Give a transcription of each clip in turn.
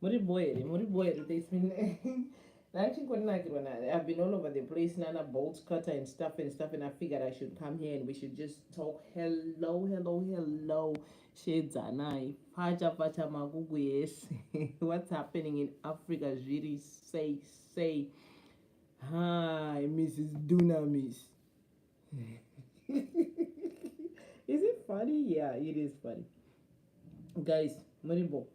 muri boy here muri boy here this ndachingorinakirwa na i've been all over the place nana bolt cutter and stuff and stuff and i figured i should come here and we should just talk hello hello hello shedzanai pfacha pfacha makuku yese what's happening in africa zviri sei sei hi mrs dunamis is it funny yeah it is funny guys muribo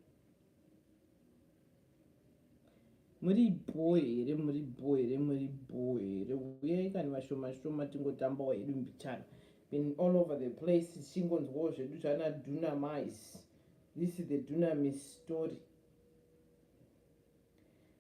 muri bho here muri bho here muri bho here uyai kani vashoma shoma tingotambawo hedu mbichana been all over the place tichingonzwawo zvedu zvana dunamis this is the dunamis story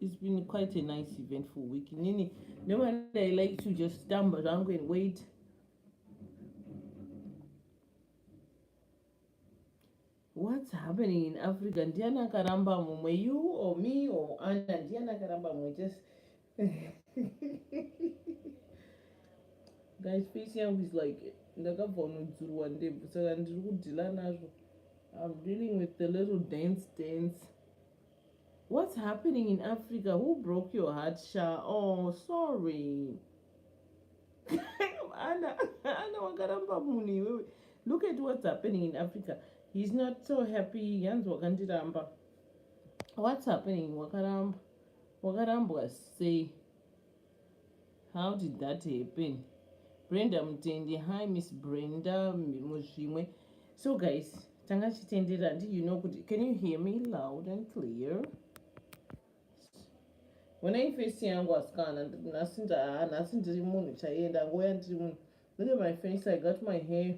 It's been quite a nice eventful week. Nini, no one I like to just stand around and wait. What's happening in Africa? Ndiana karamba mumwe, you or me or Anna, Ndiana karamba mumwe, just... Guys, face yangu is like, ndakabva unodzurwa ndebvu, saka ndiri kudhila nazvo. I'm dealing with the little dance dance. What's happening in Africa? Who broke your heart, Sha? Oh, sorry. Anna, Anna, wakaramba munhu iwewe. Look at what's happening in Africa. He's not so happy. Yanzi wakandiramba. What's happening? Wakaramba. Wakarambwa sei? How did that happen? Brenda Mutendi, hi Miss Brenda Muzvimwe. So guys, tanga chitendera ndi you know kuti can you hear me loud and clear? When I face yangu asikana nhasi nhasi ndiri munhu chaiye ndangoya ndiri munhu. Look at my face, I got my hair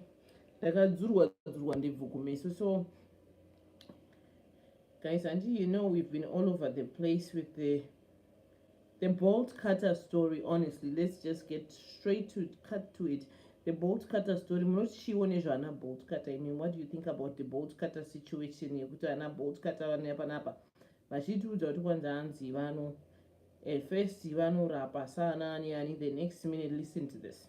ndakadzurwa dzurwa ndebvu kumeso so guys and you know we've been all over the place with the The bolt cutter story, honestly, let's just get straight to cut to it. The bolt cutter story, munochiwo nezvaana bolt cutter. I mean, what do you think about the bolt cutter situation yekuti ana bolt cutter vanouya panapa vachitiudza kuti kwanza hanzi vano at first vanorapa saana ani ani the next minute listen to this.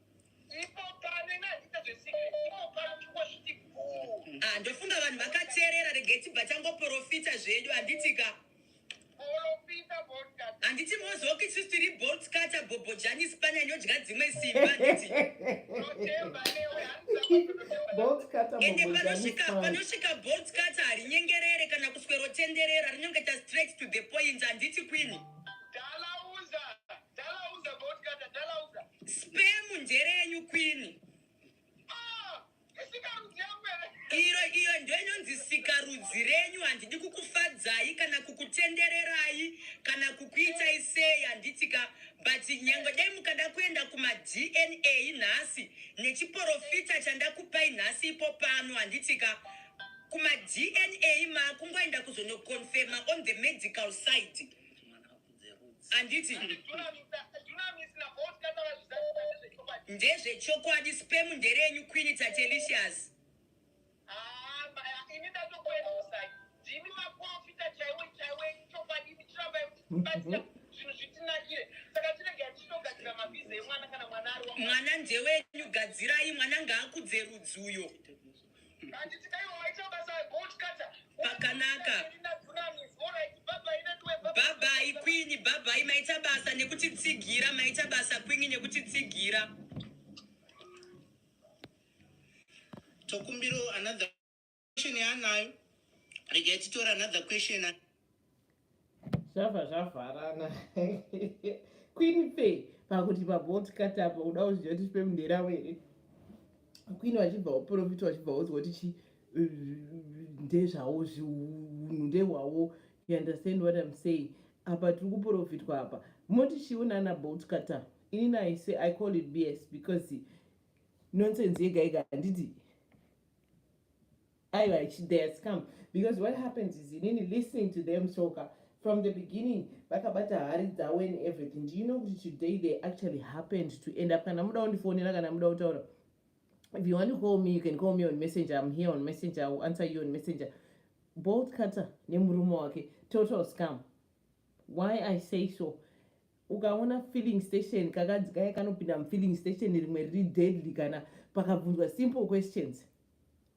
Ah, ndofunga vanhu vakateerera regai tibva tangoprofita zvedu handitika handiti mozoki sisi tiri bolt kata bhobho jani spani anodya dzimwe simba handiti ende panosvika panosvika bolt kata harinyengerere kana kuswerotenderera rinongeta straight to the point handiti kwini Dalauza bodyguard dalauza. Sperm njere yenyu queen. Ah, isikarudzi yangu ere? Iro iyo ndio inonzi sikarudzi renyu handidi kukufadzai kana kukutendererai kana kukuitai sei handitika but nyange dai mukada kuenda kuma DNA nhasi nechiporofita chandakupai nhasi ipo pano handitika kuma DNA makungoenda kuzonoconfirma on the medical side. anditi ndezvechokwadi spem nderenyu queen tatelicious mwana ndewenyu gadzirai mwana ngaakudze rudzi uyo mm -hmm. pakanaka bhabhai kwini bhabhai maita basa nekutitsigira maita basa kwini nekutitsigira tokumbiro another question yaanayo rega titora another question zvabva zvavharana queen fe pakuti pabolt katapa uda kuzviya kuti chipe mundera were queen vachibva uprofita vachibva wozwa kuti chi ndezvawo zviunhu ndehwawo you understand what im saying apa tiri kuprofitwa apa moti chiwo nana bolt kata ini naise i call it bs because nonsense yega yega handiti aiwa they has come because what happens is inini listening to them soka from the beginning vakabata hari dzavo and everything do you know kuti today they actually happened to end up kana muda undifonera kana muda kutaura if you want to call me you can call me on messenger i'm here on messenger i will answer you on messenger bolt cutter nemurume wake total scam why i say so ukaona filling station kakadzi kaye kanopinda mufilling station rimwe riri deadly kana pakabvunzwa simple questions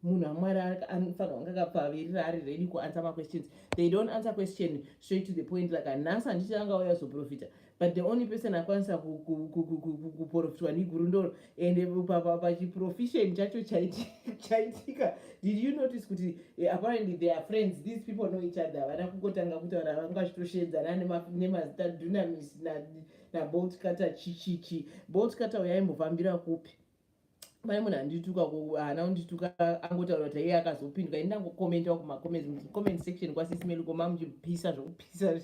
munhu amwari anofanira kunge akapavirira ari ready kuanswer maquestions they don't answer question straight to the point like anhasi handiti angauya zoprofita but the only person akwanisa kuprofitwa neguru ndoro and pachiprofession chacho chaitika did you notice kuti eh, apparently they are friends these people know each other havana kungotanga kutaura vanga vachitoshedzana nemazita dunamis naboltkata chichichi boltkata uyaimbohvambira kupi pane munhu andituka haana kundituka angotaura kuti aiye akazopindwa ini ndangokomentawo kumacomment section kwasisimeli koma muchipisa zvokupisa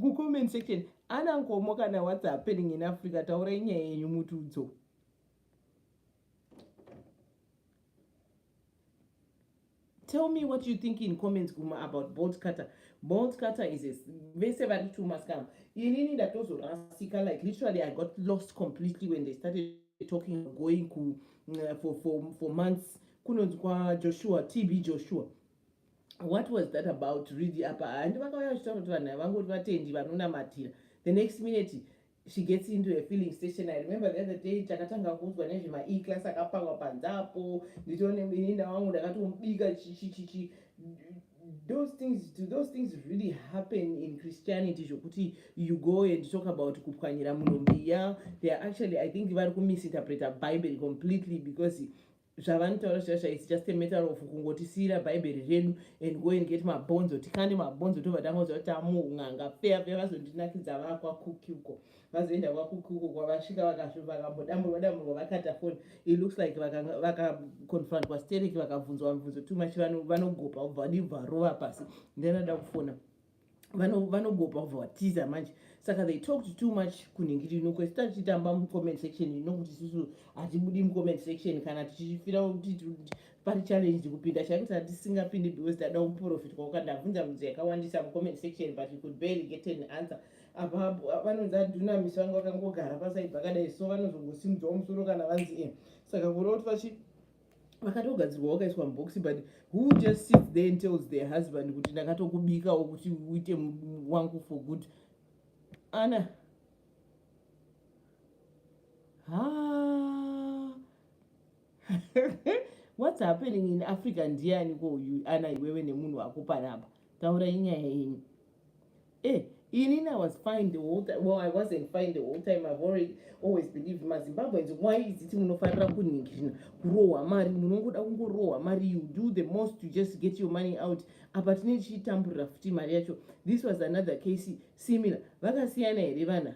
kucomment section ana nkomo kana what's happening in africa taurai nyaya yenyu mutudzo Tell me what you think in comments kuma about bolt cutter. Bolt cutter is a vese vari two maskam. Inini ndatozorasika like literally I got lost completely when they started talking going ku, uh, for, for, for months kunonzi kwajoshua tb joshua what was that about really apa handi vakauya vachitaura kuti vanhu vangoti vatendi vanonamatira the next minute she gets into a filling station i remember the other day takatanga kuudzwa nezvema e class akapangwa panze apo nditoone muninda wangu ndakatomubika chichichichi those things do those things really happen in christianity zvokuti you go and talk about kupwanyira munhu mbiya they are actually i think vari kumisinterpreta bible completely because zvavanotaura zvasha its just a matter of kungotisiyira bhaibheri redu and go and get mabhonzo tikande mabhonzo tobva tangoziva kuti tamuun'anga feya feya vazondinakidza vaa kwakuki uko vazoenda kwakuki uko kwavasvika vakambodamburwa damburwa vakata foni it looks like vakaconfrontwa sterek vakabvunzwa mubvunzo too much vanogopa ubva vadii bvarova pasi ndinoda kufona vanogopa kubva vatiza manje saka they talked too much kunhingiri ino kwese tati titamba mucomment section ino kuti isusu hatibudi mucomment section kana tichifira kuti pari challenge kupinda chaiko tati tisingapindi because tada kuprofit kwauka ndabvunza bvunzo yakawandisa mucomment section but you could barely get an answer apa vanonzi aduna miso vanga vakangogara pasaibva kadai so vanozongosimudzwa musoro kana vanzi e saka kuroti vachi vakatogadzirwa wakaiswa mubox but who just sits there and tells their husband kuti ndakatokubikawo kuti uite wangu for good ana ha what's happening in africa ndiani ko uyu ana iwewe nemunhu wako panapa taurai nyaya yenyu Eh, inini I was fine the whole time. Well, I wasn't fine the whole time. I've already always believed maZimbabweans why is it munofanira kuningirina kurohwa mari munongoda kungorohwa mari you do the most to just get your money out apa tine tichitamburira futi mari yacho this was another case similar vakasiyana here vana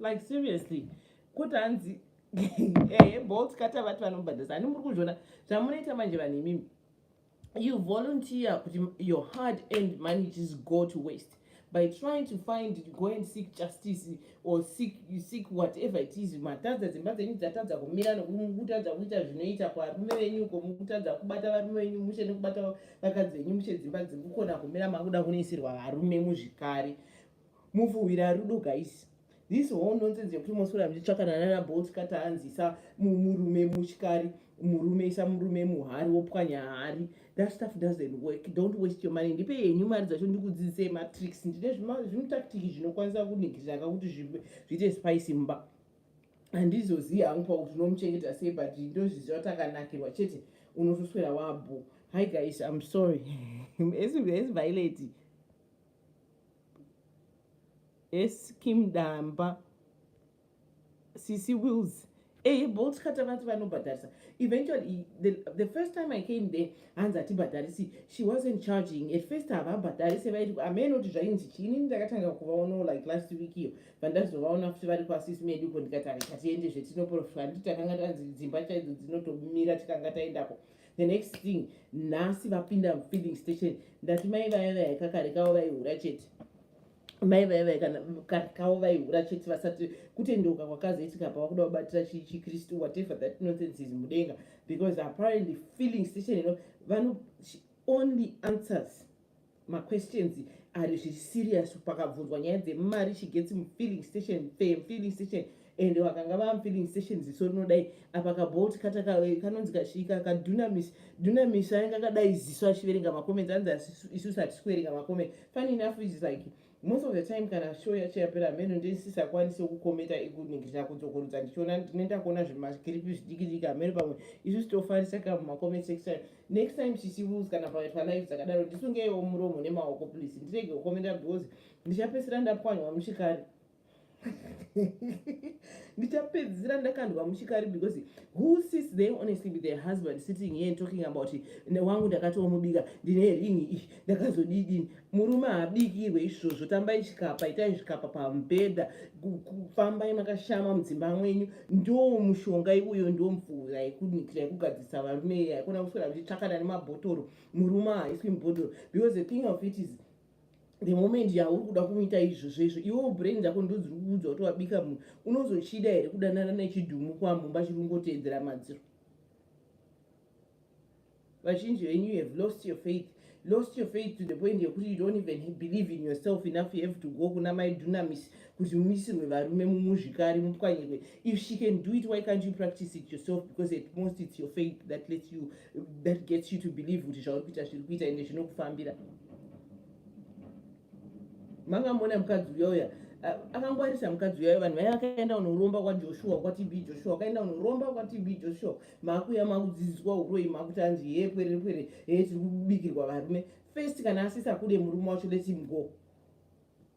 like seriously kuti hanzi ehe eh, bolt kata vati vanobhadhasa ani muri kuzviona zvamunoita manje vanhu imimi you volunteer kuti your hard end money just go to waste by trying to find go and seek justice or seek, seek whatever it is matadza dzimba dzenyu dzatadza kumira nekutadza kuita zvinoita kwarume venyu ko mukutadza kubata varume venyu mushe nekubata vakadzi venyu mushe dzimba dzekukona kumira makuda kunoisirwa varume muzvikari mufuhwira rudo guys this whole nonsense yekuti moswera muchitsvakana nana bolt kati anzisa murume muchikari murume isa murume muhari wopwanya hari that stuff doesn't work don't waste your money ndipe yenyu mari dzacho ndikudzidzisei matricks ndine zvimutaktiki zvinokwanisa kunigirira kakuti zviite spice mumba handizozivi hangu pakuti unomuchengeta sei but ndozviziva takanakirwa chete unotoswera wabho hi guys im sorry as violate eskim damba sisi wills eye eh, bolt kata vanti vanobhadharisa eventually the, the first time i came there hanzi hatibhadharisi she wasn't charging at first havabhadharise vaiti ameno kuti zvainzi chini ndakatanga kuvaonawo like last week iyo vandazovaona futi vari kwasisi medu ko ndikati ari katiende zvetinoprofita handiti takanga tanzi dzimba chaidzo dzinotomira tikanga taendako the next thing nhasi vapinda feeling station ndati mai vaya vaya kakarekawo vaihura chete mai vaya vaya kana karekawo vaihura chete vasati kutendeuka kwakazoitika pavakuda kubatira chikristu whatever that nonsense is mudenga because apparently feeling station ino vano only answers maquestions ari zviri serious pakabvunzwa nyaya dzemari she gets mufilling station fe mufilling station and vakanga vaa mufilling station ziso rinodai apa kabolt kata kanonzi kasvika kadunamis dunamis ainge akadai ziso achiverenga macomments anzi isu sati sikuverenga macomments funny enough is like Most of the time kana show yacho yapera hameno ndisisakwanise kukometa ikuningirira kudzokorudza ndichiona ndinoenda kuona zvimakiripi zvidiki diki hameno pamwe isu sitofarisa ka mumacoment section next time chichirules kana pakaitwa live dzakadaro ndisungeiwo muromo nemaoko please ndirege kukomenta because ndichapesera ndapwanywa muchikari ndichapedzisira ndakandwa muchikari because who sits there honestly with their husband sitting here and talking about it newangu ndakatomubika ndine ringi iyi ndakazodidini murume haabikirwe izvozvo tambai chikapa itai zvikapa pamubhedha kufambai makashama mudzimba mwenyu ndo mushonga iwoyo ndo mvura yekunikira yekugadzirisa varume yaikona kuswera muchitsvakana nemabhotoro murume haaiswi mubhodhoro because the thing of it is the moment yauri kuda kumuita izvo zvezvo iwewo brain dzako ndodziri kuudza kuti wabika munhu unozochida here kudanana nechidhumu kwamumba chiri kungoteedzera madziro vazhinji venyu you have lost your faith lost your faith to the point yekuti you don't even believe in yourself enough you have to go kuna mai dunamis kuti muisirwe varume mumuzvikari mupwanyirwe if she can do it why can't you practice it yourself because at most it's your faith that lets you that gets you to believe kuti zvauri kuita zviri kuita ende zvinokufambira mangamona mukadzi uya uya akangwarisa mukadzi uyayo vanhu vaya vakaenda unoromba kwajoshua kwatb joshua akaenda unoromba kwatb joshua makuya makudzidziswa uroi makuti anzi hee pwere pwere hee tiri kubikirwa varume first kana asisa kude murume wacho lets him go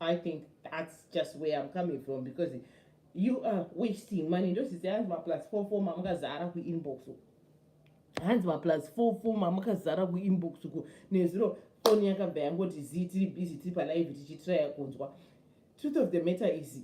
I think that's just where I'm coming from because you are wasting money. Those is the answer plus four four mamuka zara ku inbox. Hands my plus four four mamuka zara ku inbox ku ne zero phone yaka baya ngoti zi tiri busy tiri pa live tichi try kunzwa. Truth of the matter is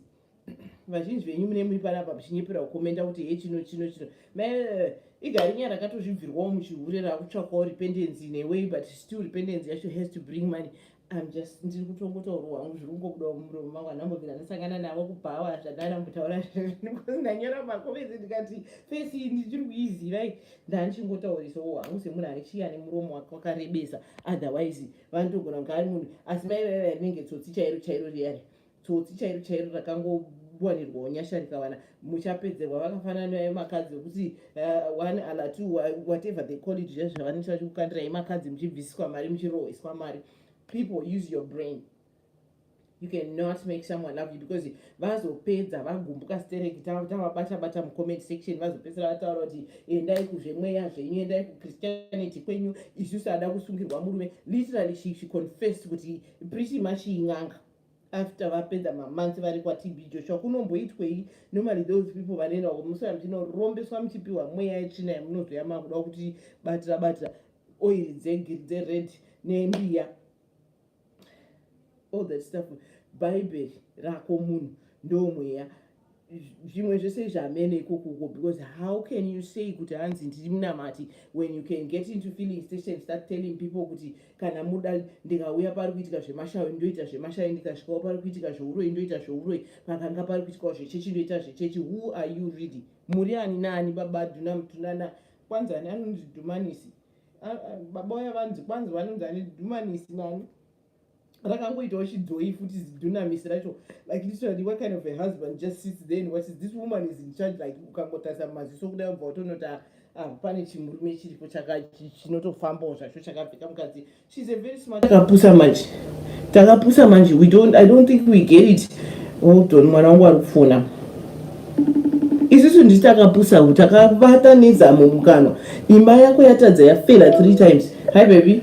vazhinji venyu mune muri panapa muchinyepera kukomenda kuti he chino chino chino eh, igarinya rakatozvibvirwawo muchihure rakutsvakawo rependency neway but still rependency yacho has to bring money im just ndiri kutongotauro wangu zviri kungobudawo mumuromo mangu anambovira ndasangana navo kubhawa zvadana mutaura because ndanyora makomezi ndikati fesi iyi ndichiri kuizivai ndanichingotaurisawo wangu semunhu anechiyi ane muromo wake wakarebesa otherwise vanotogona kunge ari munhu asi mai vaiva rinenge tsotsi chairo chairo riyari tsotsi chairo chairo rakangowanirwawo nyasha rikawana muchapedzerwa vakafanana naye makadzi wekuti uh, one ala two whatever they call it zviya zvavanenge vachikukandirai makadzi muchibvisiswa mari muchirohwiswa mari people use your brain you cannot make someone love you because vazopedza vagumbuka stereki tavabata bata mucomment section vazopedzisira vataura kuti endai kuzvemweya zvenyu endai kuchristianity kwenyu isusu ada kusungirwa murume literally she, she confessed kuti pretty much in'anga after vapedza mamonths vari kwatb joshua kunomboitwei normally those people vanoenda uko musora muchinorombeswa muchipiwa mweya yetsvina yamunozoya makuda kuti batira batira oil dzegiri dzered nembiya all that stuff bhaibheri rako munhu ndomweya zvimwe zvese izvi hamene ikoko uko because how can you say kuti hanzi ndiri munamati when you can get into feeling station start telling people kuti kana muda ndikauya pari kuitika zvemashawi ndoita zvemashawi ndikasvikawo pari kuitika zveuroi ndoita zveuroi pakanga pari kuitikawo zvechechi ndoita zvechechi who are you really muri ani naani baba duna mutunana kwanzi ani anonzi dhumanisi baba uya vanzi kwanzi vanonzi ani dhumanisi nani rakangoitawo chidhoyi futi zidunamisi racho like literally what kind of a husband just sits then what is this woman is in charge like ukangotarisa mumaziso kuda kubva utonota ah, pane chimurume chiripo chinotofambawo zvacho chakapfeka mukadzi shes a very smart takapusa manje takapusa manje we don't i don't think we get it oldon mwana wangu ari kufona isusu nditi takapusa u takavata nezamo mukanwa imba yako yatadza yafela three times hi baby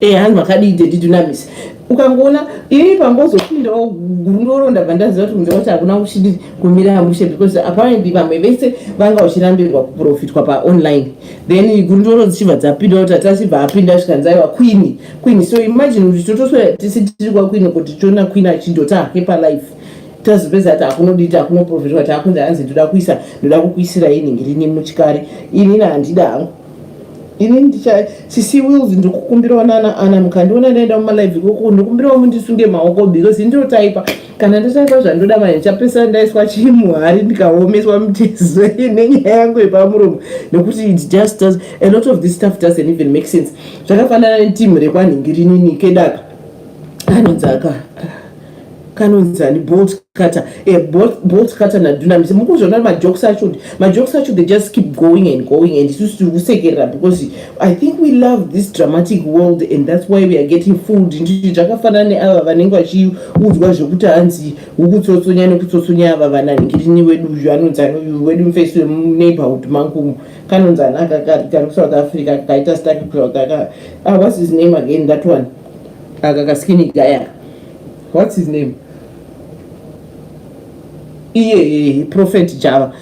Eh hanzi makadii daddy Dunamis. Ukangoona ini pambozopindawo gurungoro ndabva ndaziva kuti kunze kwacho hakuna kuchidi kumira mushe because apparently vamwe vese vanga vachirambirwa kuprofitwa pa online. Then gurungoro dzichibva dzapinda kuti atachibva apinda zvikanzi aiwa queen queen so imagine kuti totoswera tisi tiri kwa queen kuti tiona queen achindota hake pa life. tazopedza kuti hakunodita hakunoprofitwa kuti hakunzi hanzi ndoda kuisa ndoda kukuisira ini ngirini muchikari inini handida hangu ini ndicha sisi wills ndikukumbirawo nana ana mukandiona ndaenda mumalive ikoko ndikumbirawo mundisunge maoko because ndinotaipa kana ndotaipa zvandoda manje ndichapesana ndaiswa chimuhari ndikaomeswa mitezo nenyaya yangu yepamuromo nekuti it just does a lot of this stuff doesn't even make sense zvakafanana netimu rekwanhingirinini kedaka anonzi aka kanonzi ani bolt kata eh, bolt kata nadunamis mukuzviona majokes acho kuti majokes acho they just keep going and going and isusu tiri kusekerera because i think we love this dramatic world and that's why we are getting fooled nditi zvakafanana neava vanenge vachiudzwa zvekuti hanzi ukutsotsonya nekutsotsonya ava vanangirini wedu uyu anonzi anoyu wedu mfesi wemuneighborhood mangumu kanonzi anaka kari kusouth africa kaita stake kusouth africa ah, what's his name again that one aka kaskini gayaka what's his name iye prophet java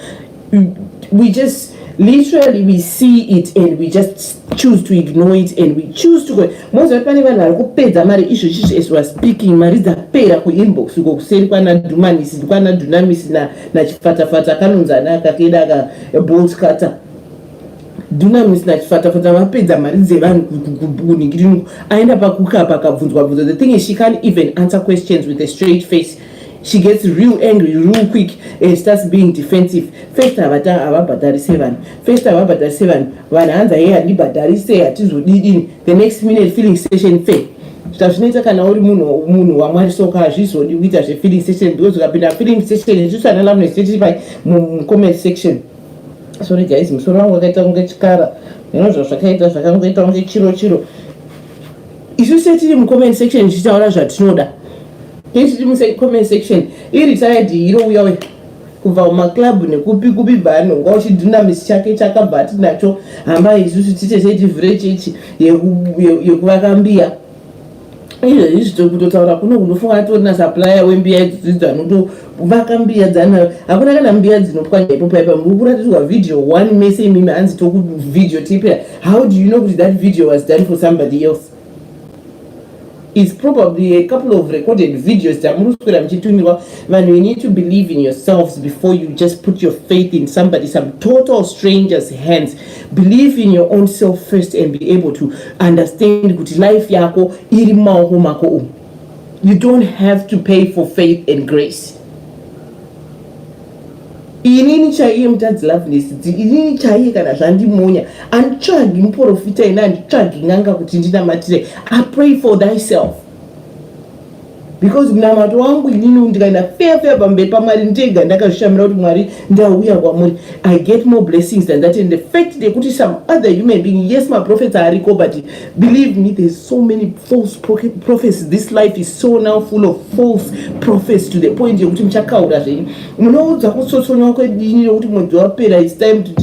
we just literally we see it and we just choose to ignore it and we choose to go moziva kuti pane vanhu vari kupedza mari izvo chizvo as weare speaking mari dzapera kuinbox uko kuseri kwana dumanisi kwana dunamisi nachifatafata kanonzi ana akakeda aka bolt cutter Dunamis nachifatafata vapedza mari dzevanhu kunhingiriniko aenda pakukapa akabvunzwa bvunzo the thing is she can't even answer questions with a straight face she gets real angry real quick and starts being defensive first havabhadharise vanhu first havabhadharise vanhu vanhu hanzi aye handibhadharise hatizodidini the next minute feeling station fair zvazvinoita kana uri munhu munhu wamwari soka hazvizodi kuita zvefeeling station because ukapinda feeling station isusu analamnesetipai mucomment section sorry guys musoro wangu wakaita kunge chikara zvino zvazvakaita zvakangoita kunge chiro chiro isu setiri mucomment section tichitaura zvatinoda tiri mucomment section iri tayadi hiro uya uya kubva kumaclub nekupi kupi bvaanonga uchidhinamis chake chakabva tinacho hamba isusu titete tivhure chechi yekuvaka mbiya izvezvi izvi tiri kutotaura kuno kunofunga atori nasupplier wembiya idzidzi dzanotovaka mbiya dzana hakuna kana mbiya dzinopwanya ipo paipa muri kuratidzwa video one mese imimi hanzi tokuvideo tipera how do you know kuti that video was done for somebody else is probably a couple of recorded videos dzamuri kuswera muchitumirwa vanhu you need to believe in yourselves before you just put your faith in somebody some total strangers hands Believe in your own self first and be able to understand kuti life yako iri mumaoko mako umu. You don't have to pay for faith and grace. inini chaiye mutadzi loveness inini chaiye kana zvandimonya anditsvagi muprofita ini anditsvagi n'anga kuti ndinamatire i pray for thyself because munamato wangu inini ndikaenda feya feya pamberi pamwari ndega ndakazvishamira kuti mwari ndauya kwamuri i get more blessings than that and the fact yekuti some other human being yes maprofets ariko but believe me there's so many false prophecy this life is so now full of false prophecy to the point yekuti muchakaura zvenyu munoudzwa kutsotsonywa kwedini nekuti mwedzi wapera its time to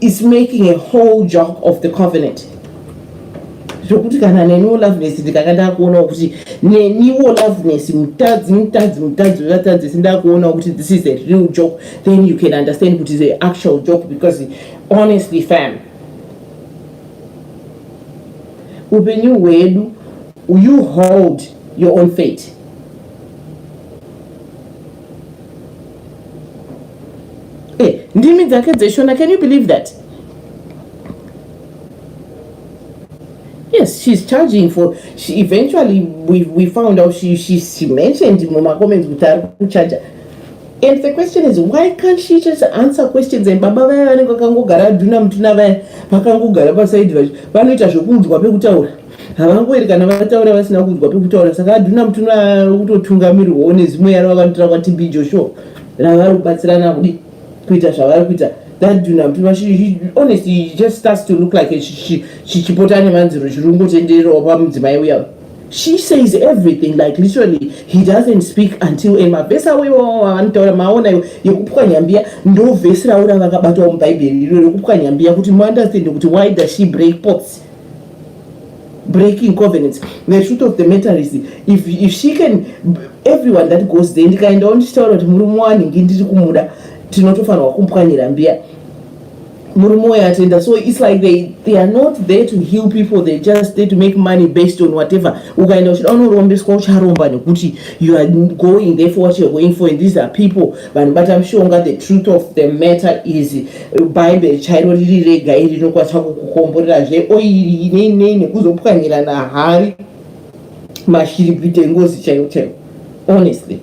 is making a whole job of the covenant zvokuti kana neniwo loveness ndikanga ndakuonawo kuti neniwo loveness mutadzi mutadzi mutadzi wevatadzi sindakuonawo kuti this is a real job then you can understand kuti is a actual job because honestly fam upenyu hwedu you hold your own fate eh, ndimi dzake dzeshona can you believe that yes she's charging for she eventually we, we found out she, she, she mentioned mumacomments kuti ari kucharger and the question is why can't she just answer questions and baba vaya vanenge vakangogara adhuna mutuna vaya vakangogara pasaidi vacho vanoita zvekuudzwa pekutaura havangweri kana vataura vasina kunzwa pekutaura saka adhuna mutuna kutotungamirwawo nezimwe yaro vakanotora kwatb joshua ravari kubatsirana kudi kuita zvavari kuita adhuna mutuna honestly just starts to look like chichipota ane manziro chirungo tendererawo pamudzimai uya she says everything like literally he doesn't speak until ema vhesi awo iwawo avanotaura maona iwo yekupwanya mbiya ndo vhesi raura vakabatwa mubhaibheri iro rekupwanya mbiya kuti muunderstand kuti why does she break pots breaking covenants the truth of the matter is if, if she can everyone that goes there ndikaendawo ndichitaura kuti murume wanhingi ndiri kumuda tinotofanirwa kumpwanyira mbiya murume uyo atenda so its like they, they are not there to heal people they just there to make money based on whatever ukaenda uchida unorombeswa ucharomba nekuti you are going there for what youare going for and these are people vanhu bata mushonga the truth of the matter is bhaibheri chairo riri rega iri rinokwanisa kukukomborerazve oiri inei nei nekuzopwanyirana hari mashiripiti engozi chaiwo chaiwo honestly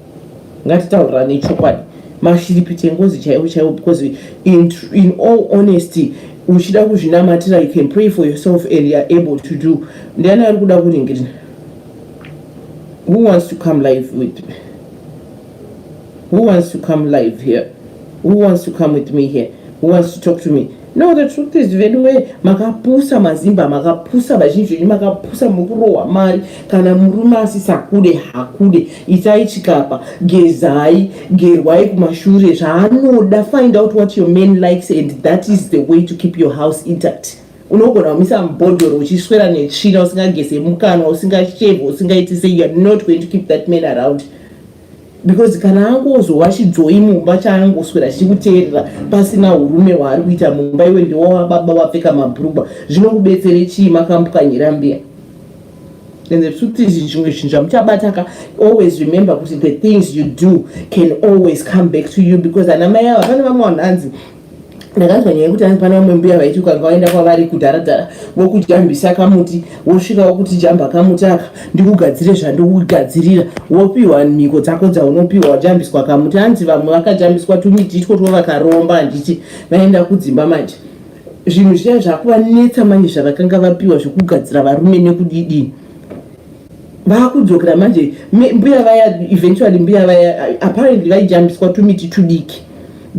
ngatitaurirane chokwadi mashiripiti engozi chaiwo chaiwo because in, in all honesty uchida kuzvinamatira you can pray for yourself and youare able to do ndiani ari kuda kuringirina who wants to come live with me Who wants to come live here? Who wants to come with me here? Who wants to talk to me? No, the truth is veduwe makapusa mazimba makapusa vazhinji venyu makapusa mukurohwa mari kana murume asisakude hakude itai chikapa gezai gerwai kumashure zvaanoda find out what your man likes and that is the way to keep your house intact unogona kumisa mubhodhoro uchiswera netsvina usingageze mukanwa usingasheve usingaiti sei youare not going to keep that man around because kana angozowa chidzoi mumba chaangoswera chichikuteerera pasina urume waari kuita mumba iwe ndewawa baba wapfeka mabhurugwa zvinokubetsere chii makambukanyira mbiya and the truth is zvimwe zvinhu zvamuchabataka always remember kuti the things you do can always come back to you because ana mai ava pane vamwe vanhu hanzi ndakanzwa nyaya yekuti anipana vamwe mbuya vaiti ukanga waenda kwavari kudharadhara vokujambisa kamuti wosvika wokuti jamba kamuti aka ndikugadzire zvandikugadzirira wopiwa mhiko dzako dzaunopiwa wajambiswa kamuti hanzi vamwe vakajambiswa tumiti itwo two vakaromba handiti vaenda kudzimba manje zvinhu zviya zvakuvanetsa manje zvavakanga vapiwa zvekugadzira varume nekudidii vakudzokera manje mbuya vaya eventually mbuya vaya uh, apparently vaijambiswa tumiti tudiki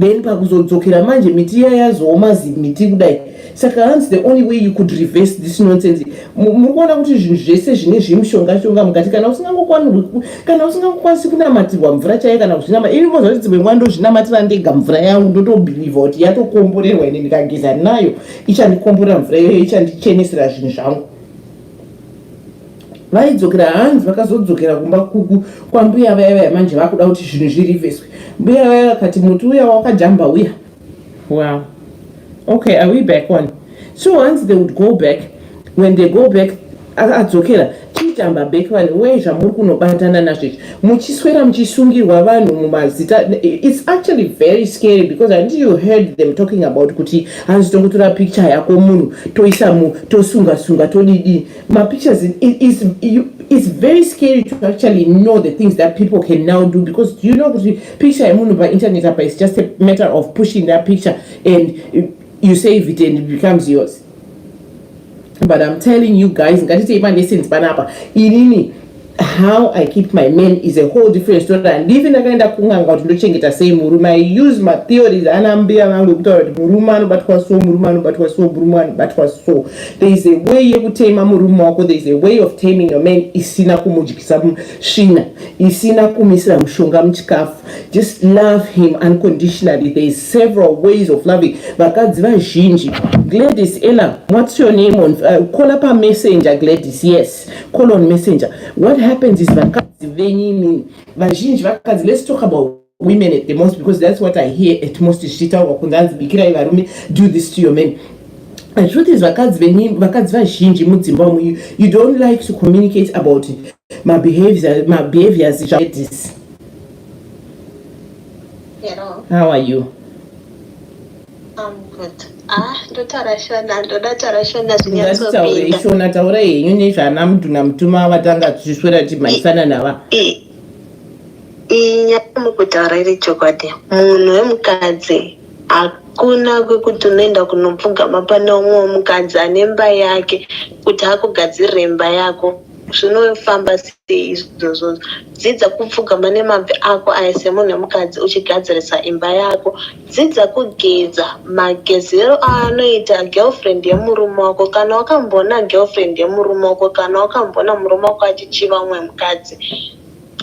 then pakuzodzokera manje miti iya yazooma zimiti kudai saka hanzi the only way you could reverse this nonsense muri kuona kuti zvinhu zvese zvine zvemushonga shonga mukati kana usingangokwanirwi kana usingangokwanisi kunamatirwa mvura chaiyo kana kuzvinama ini moza kuti dzimwe nguva ndozvinamatira ndega mvura yangu ndotobhilivha kuti yatokomborerwa ine ndikageza nayo ichandikomborera mvura iyoyo ichandichenesera zvinhu zvangu vaidzokera hanzi vakazodzokera kumba kuku kwambuya vaya vaya manje vakuda kuti zvinhu zviriveswe mbuya vaya vakati muti uya wakajamba uya wow okay are we back on so once they would go back when they go back adzokera chitamba back vani wee zvamuri kunobatana nazvezvi muchiswera muchisungirwa vanhu mumazita it's actually very scary because and you heard them talking about kuti hanzi tongotora picture yako munhu toisa mu tosunga sunga todidi mapictures is it's very scary to actually know the things that people can now do because you know kuti picture yemunhu painternet apa is just a matter of pushing that picture and you save it and it becomes yours but i'm telling you guys ngatitei malessons panapa inini how i keep my men is a whole different story handivi ndakaenda kunganga kuti ndochengeta sei murume i use matheories ana mbuya vangu ekutaura kuti murume anobatwa so murume anobatwa so murume anobatwa so there is a way yekutema murume wako there is a way of taming your man isina kumudyisa svina isina kumisira mushonga muchikafu Just love him unconditionally. There is several ways of loving. Vakadzi vazhinji. Gladys, Ella, what's your name on uh, call up a messenger Gladys. Yes. Call on messenger. What happens is vakadzi venini vazhinji vakadzi let's talk about women at the most because that's what I hear at most zvichitaurwa kunzi hanzi bikirai varume do this to your men the truth is vakadzi vakadzi vazhinji mudzimba umu you don't like to communicate about it mabehaviors mabehaviors zvaedisi Hello. How are you? I'm good. Ah, ndotaura shona, ndoda taura shona zvinyatsopinda. Shona taura henyu nezvana mudhuna mutuma vatanga tichiswera timhaisana nava. Inya mukutaura iri chokwadi. Munhu wemukadzi hakuna kwekuti unoenda kunopfugama pane umwe mukadzi ane mba yake kuti akugadzirire mba yako. zvinofamba sei izvozvo dzidza kupfugama nemabvi ako aya semunhu wemukadzi uchigadzirisa imba yako dzidza kugeza magezero aanoita girlfriend yemurume wako kana wakamboona girlfriend yemurume wako kana wakamboona murume wako achichiva umwe mukadzi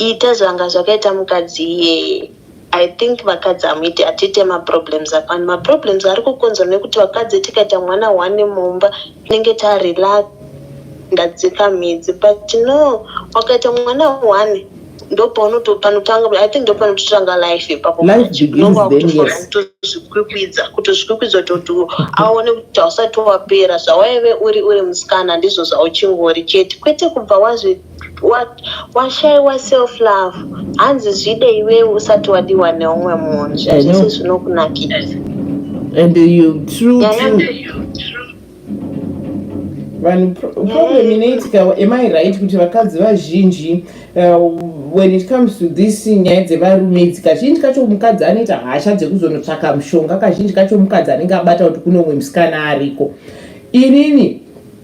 ita zvanga zvakaita mukadzi iyeye I think vakadzi hamuiti hatite maproblems apani maproblems ari kukonzwa nekuti vakadzi tikaita mwana one mumba tinenge tarelax ndadzika midzi but no wakaita mwana one ndopaunotopanotangai think ndopanototanga life ipapoautozvikwikwidza kutozvikwikwidza toti aone kuti hausati wapera zvawaive uri uri musikana ndizvo zvauchingori chete kwete kubva wazvi washaiwa self love hanzi zvide iwewe usati wadiwa neumwe munhu zvazvese zvinokunakira and you true vanhu problem inoitika am i right kuti vakadzi vazhinji uh, when it comes to this nyaya dzevarume idzi kazhinji kacho mukadzi anoita hasha dzekuzonotsvaka mushonga kazhinji kacho mukadzi anenge abata kuti kune umwe musikana ariko inini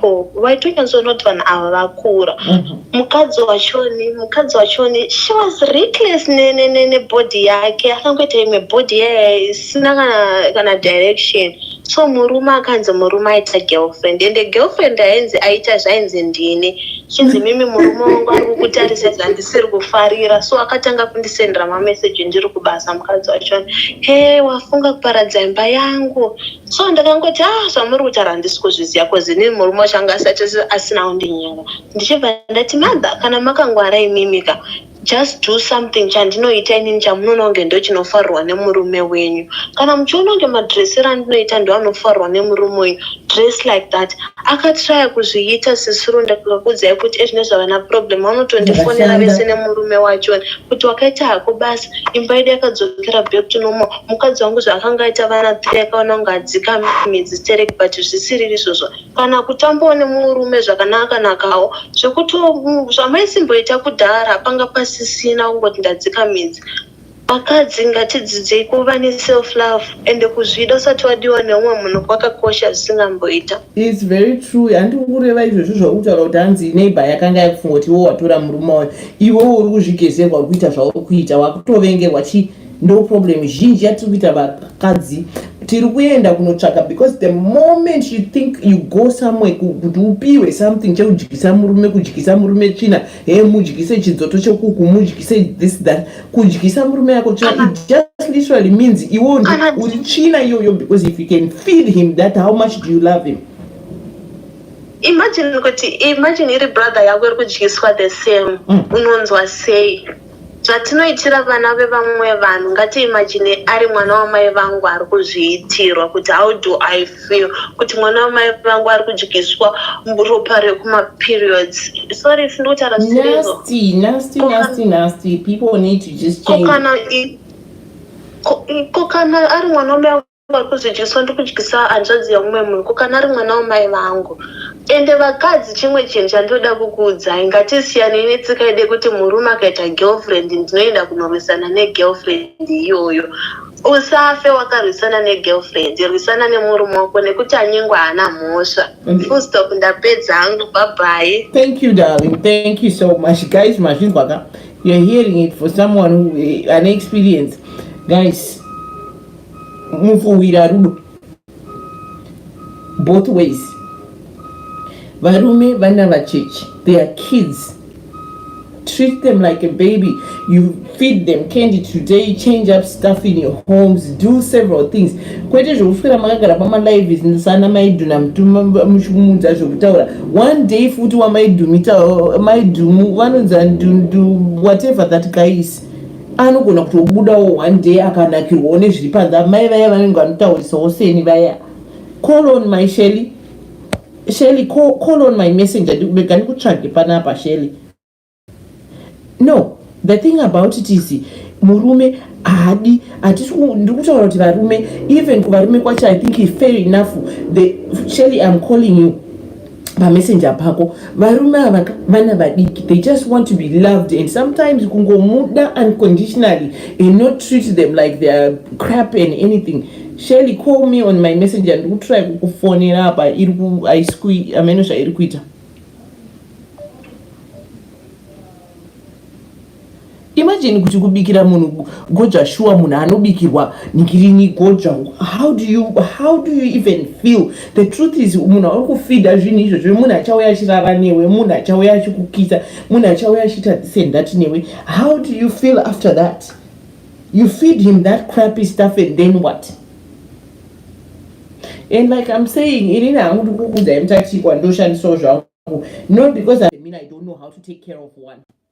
Ko waitonyatso not vanhu ava vakura. Mhm. Mukadzi wachoni, mukadzi wachoni she was reckless ne ne ne ne body yake akangoita imwe body yaye isina kana kana direction. So murume akanzi murume aita girlfriend and the girlfriend ainzi aita zvainzi ndini. Chinzi mimi murume wangu ari kukutarisa zvandisiri kufarira so akatanga kundisendera ma message ndiri kubasa mukadzi wachoni. Hey wafunga kuparadza imba yangu. so ndakangoti ah zvamuri kutaura handisi kuzviziva bcoz ini murume wacho anga asati asina kundinyenga ndichibva ndati mother kana makangwara imimika just do something chandinoita inini chamunoona kunge ndo chinofarirwa nemurume wenyu kana muchiona kunge madressero andinoita ndo anofarirwa nemurume wenyu dress like that akatraya kuzviita sisuru ndakakudzai kuti ezvine zvavana problem vanotondifonera vese nemurume wacho kuti wakaita hako basa imba yedu yakadzokera back to normal mukadzi wangu zvaakanga aita vana three akaona kunge adzika midzi sterek but zvisiriri izvozvo kana kutambawo nemurume zvakanakanakawo zvekuti zvamaisimboita kudhara panga pasisina kungoti ndadzika midzi vakadzi ngatidzidzei kuva neself love ende kuzvida usati wadiwa neumwe munhu kwakakosha zvisingamboita its very true handi kureva izvozvo zvakutaura kuti hanzi neighbor yakanga yakufunga kuti iwo watora murume wayo iwe uri kuzvigezerwa uri kuita zvauri kuita wakutovengerwa chii ndo problem zhinji yatiri kuita vakadzi tiri kuenda kunotsvaka because the moment you think you go somewhere kuti upiwe something chekudyisa murume kudyisa murume tsvina he mudyise chidzoto chekuku mudyise this that kudyisa murume yako tsvina uh-huh. it just literally means iwo ndi uh-huh. uri tsvina iyoyo because if you can feed him that how much do you love him imagine kuti imagine iri brother yako iri kudyiswa the same mm. unonzwa sei Zvatinoitira vana vevamwe vanhu ngatiimagine ari mwana wamai vangu ari kuzviitirwa kuti how do I feel kuti mwana wamai vangu ari kudyiswa ropa rekumaperiods. Sorry sisi ndikutaura zvisirezvo. Nasty, nasty, nasty, nasty. People need to just change. Ko kana ari mwana wamai Kwakuzi Jesu andikudyisa hanzvadzi yamumwe munhu ko kana ari mwana wamai vangu ende vakadzi chimwe chinhu chandinoda kukuudzai ngatisiyanei netsika yede kuti murume akaita girlfriend ndinoenda kunorwisana negirlfriend iyoyo usafe wakarwisana negirlfriend rwisana nemurume wako nekuti anyengwa haana mhosva full stop ndapedza hangu babhayi thank you darling thank you so much guys mazvinzwa ka you're hearing it for someone who eh, an experience guys mufuhwira rudo both ways varume vana vacheche they are kids treat them like a baby you feed them candy today change up stuff in your homes do several things kwete zvekufira makagara pamalive sana maidhuna muchikumudza zvekutaura one day futi wamaidhumita maidumu vanonzi whatever that guy is anogona kutobudawo one day akanakirwawo nezviri panze amai vaya vanenge vanotaurisawo seni vaya call on my shely shely call, call on my messenger ndikubega ndikutsvage panapa shely no the thing about it is murume haadi ndiri kutaura kuti varume even kuvarume kwacho i think fair enough the shely am calling you pamessenger pako varume ava vana vadiki they just want to be loved and sometimes kungomuda unconditionally and not treat them like their crap and anything shelly call me on my messenger ndikutry kukufonera apa iri kuaisqui ameno zvairi kuita Imagine kuti kubikira munhu goja shuwa munhu anobikirwa ngirini goja how do you how do you even feel the truth is munhu auri kufida zvinhu izvo zve munhu achauya achirara newe munhu achauya achikukisa munhu achauya achiita this and that newe how do you feel after that you feed him that crappy stuff and then what and like i'm saying inini hangu ndikukudzai mutatikwa ndoshandisawo zvangu not because i mean i don't know how to take care of one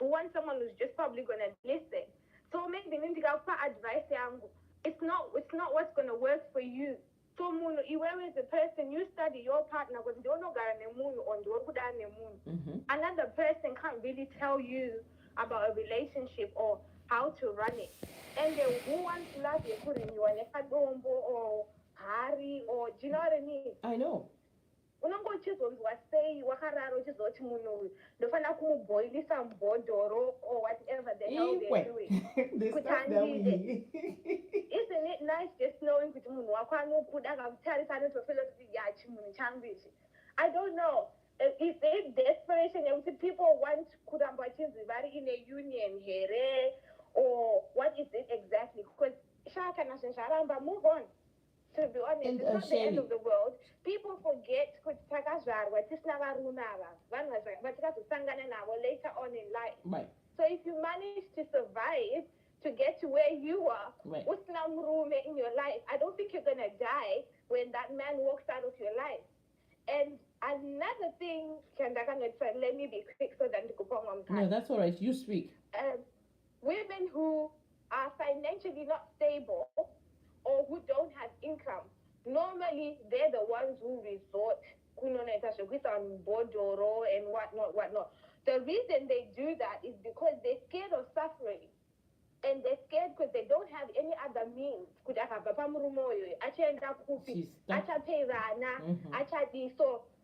u want someone who's just probably gonna listen so maybe ini ndikakupa advice yangu it's not, it's not what's gonna work for you so munhu iwewe as a person you study your partner kuti ndiwe unogara nemunhu or ndiwe kudana nemunhu mm -hmm. another person can't really tell you about a relationship or how to run it and then who wants love yekurinyiwa nekadombo or hari or do you know what i mean i know Unenge uchizonzwa sei wakarara uchizoti munhu uyu ndofanira kumuboilisa mbhodhoro or whatever the hell they're doing kuti andide isn't it nice just knowing kuti munhu wako anokuda akakutarisa anotofila kuti ya chimunhu changu ichi i don't know is it desperation yekuti people want kuramba vachinzi vari in a union here or what is it exactly because shaa kana zvinhu zvaramba move on to be honest it's not the end of the world people forget kuti takazvarwa tisina varume ava vanhu vatikazosangana navo later on in life right. so if you manage to survive to get to where you are right. usina murume in your life i don't think you're gonna die when that man walks out of your life and another thing chandakanotsa let me be quick so that ndikupa umwe mukana no that's all right you speak um, Women who are financially not stable or who don't have income normally they're the ones who resort kunonoita zvekuisa vanhu mubhodhoro and what not what not the reason they do that is because they scared of suffering and they scared because they don't have any other means kuti akabva pamurume uyoyo achaenda kupi achapei vana mm-hmm. achadii so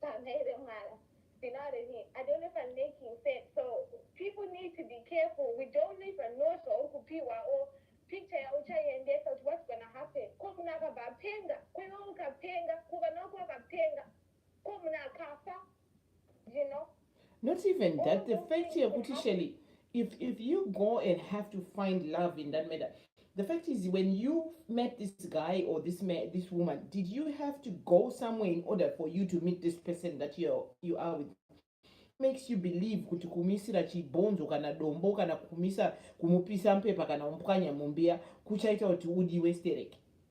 Pamhene vemwana Binare me I don't know if I'm making sense so people need to be careful we don't even know zvauri kupihwa or picture yauchaiendesa kuti what's gonna happen ko munhu akabva apenga ko iwe ukapenga ko vana vako vakapenga ko munhu akafa you know not even that the fact yekuti shelly if, if you go and have to find love in that matter the fact is when you met this guy or this man this woman did you have to go somewhere in order for you to meet this person that you you are with makes you believe kuti kumisira chibhonzo kana dombo kana kumisa kumupisa mpepa kana umpwanya mumbiya kuchaita kuti udiwe stereki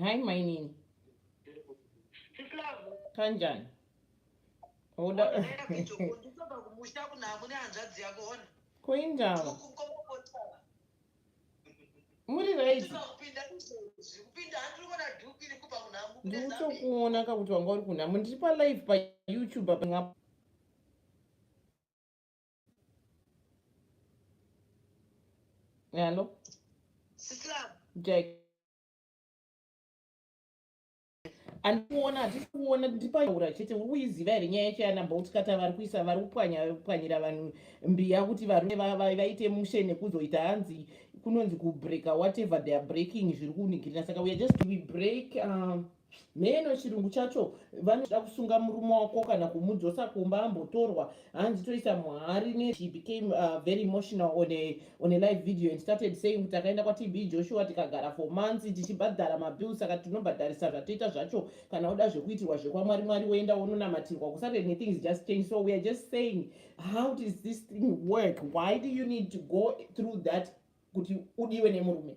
hai mainini kanjani koindava muri right ndikutokuona kakuti wanga uri kunhamo ndiri palive payoutube apa Hello. Sislam. Jack. andikuona hatisi kuona ndipataura chete uri kuiziva here nyaya yacho yanabout kata vari kuisa vari kupwanyapwanyira vanhu mbiya kuti varume vaite mushe nekuzoita hanzi kunonzi kubreaka whatever their breaking zviri kunikirira saka weare just we break um, mheno chirungu chacho vanoda kusunga murume wako kana kumudzosa kumba ambotorwa hanzi toisa muhari ne she became uh, very emotional on a, on a live video and started saying kuti akaenda kwatb joshua tikagara for months tichibhadhara mabills saka tinobhadharisa zvatoita zvacho kana oda zvekuitirwa zvekwamwari mwari woenda wononamatirwa kusave nethings just change so weare just saying how does this thing work why do you need to go through that kuti udiwe nemurume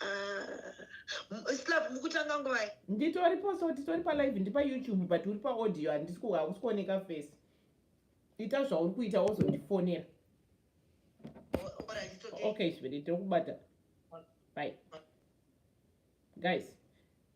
Ah, slav mukutanga nguvai nditori poso titori palive ndipa youtube but uri paaudio handisi hausi kuoneka face ita zvauri kuita wozondifonera okay zviri tokubata bye guys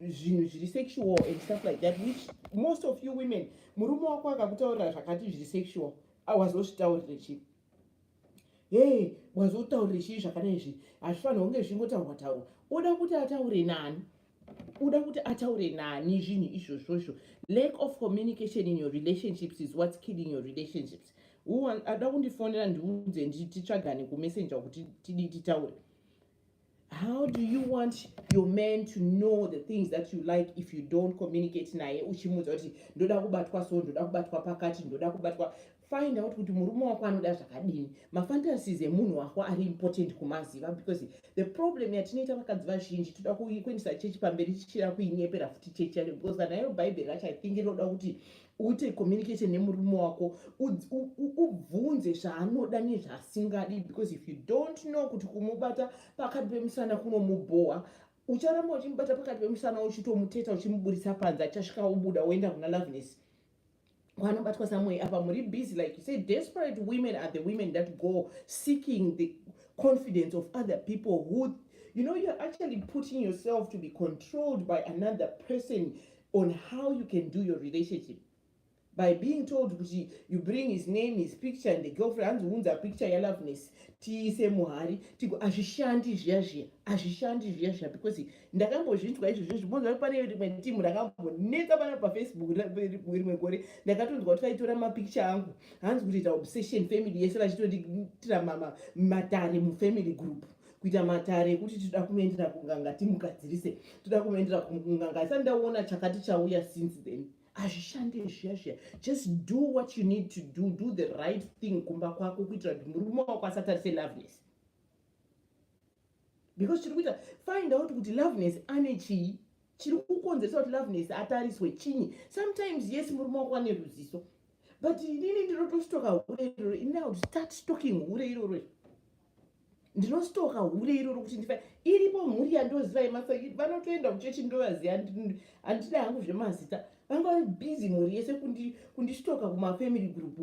zvinhu zviri sexual and stuff like that which most of you women murume wako akakutaurira zvakati zviri sexual awazozvitaurire chii hee wazotaurire chii zvakadai izvi hazvifanira kunge zvichingotaurwa taurwa oda kuti ataure nani uda kuti ataure nani zvinhu izvozvo izvo lack of communication in your relationships is whats killing your relationships ada kundifonera ndiunze ndititsvagane kumessenger kuti tidii titaure How do you want your man to know the things that you like if you don't communicate naye uchimuudza kuti ndoda kubatwa so ndoda kubatwa pakati ndoda kubatwa find out kuti murume wako anoda zvakadini mafantasies emunhu wako ari important kumaziva because the problem yatinoita vakadzi vazhinji toda kuendesa chechi pamberi tichida kuinyepera futi chechi yacho because kana iro bhaibheri racho i think rinoda kuti uite communication nemurume wako ubvunze zvaanoda nezvaasingadi because if you don't know kuti kumubata pakati pemusana kunomubhowa ucharamba uchimubata pakati pemusana uchitomuteta uchimuburitsa panze achasvika ubuda woenda kuna loveness kwanobatwa samway apa muri busy like you say desperate women are the women that go seeking the confidence of other people who you know you're actually putting yourself to be controlled by another person on how you can do your relationship by being told kuti you bring his name his picture and the girlfriend hanzi unza picture yaloveness tiise muhari tigo hazvishandi zviya zviya hazvishandi zviya zviya because ndakambozvinzwa izvo zvezvi bonzwa pane rimwe timu rakambonetsa pana pafacebook rimwe gore ndakatonzwa kuti vaitora mapicture angu hanzi kuti ita obsession family yese vachitonditira matare mufamily group kuita matare ekuti tinoda kunoendera kunganga timugadzirise toda kunoendera kunganga isati ndaona chakati chauya since then hazvishande zviya zviya just do what you need to do do the right thing kumba kwako kuitira kuti murume wako asatarise loveness because chiri kuita find out kuti loveness ane chii chiri kukonzeresa kuti loveness atariswe chinyi sometimes yes murume wako ane ruziso but inini ndinotostoka hure iroro ini now start stocking hure iroro ndinostoka hure iroro kuti ndifa iripo mhuri yandoziva yemasa vanotoenda kuchechi ndovaziva handida hangu zvemazita vanga vari busy mhuri yese kundistoka kumafamily group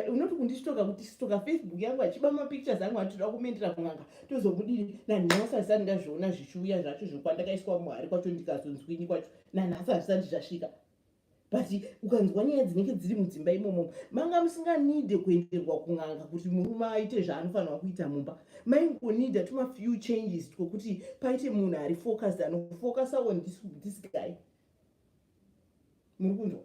unoti kundistoka kuti stoka facebook yangu achiba mapictures angu atitoda kumendera kun'anga tozomudiri nanhasi hazisati ndazviona zvichiuya zvacho zvokwandakaiswa muhari kwacho ndikazonzwinyi kwacho nanhasi hazvisati zvasvika but ukanzwa nyaya dzinenge dziri mudzimba imomo manga musinganide kuenderwa kun'anga kuti murume aite zvaanofanirwa kuita mumba maingonida tuma few changes twokuti paite munhu ari focused anofocus on this, this guy muri kunzwa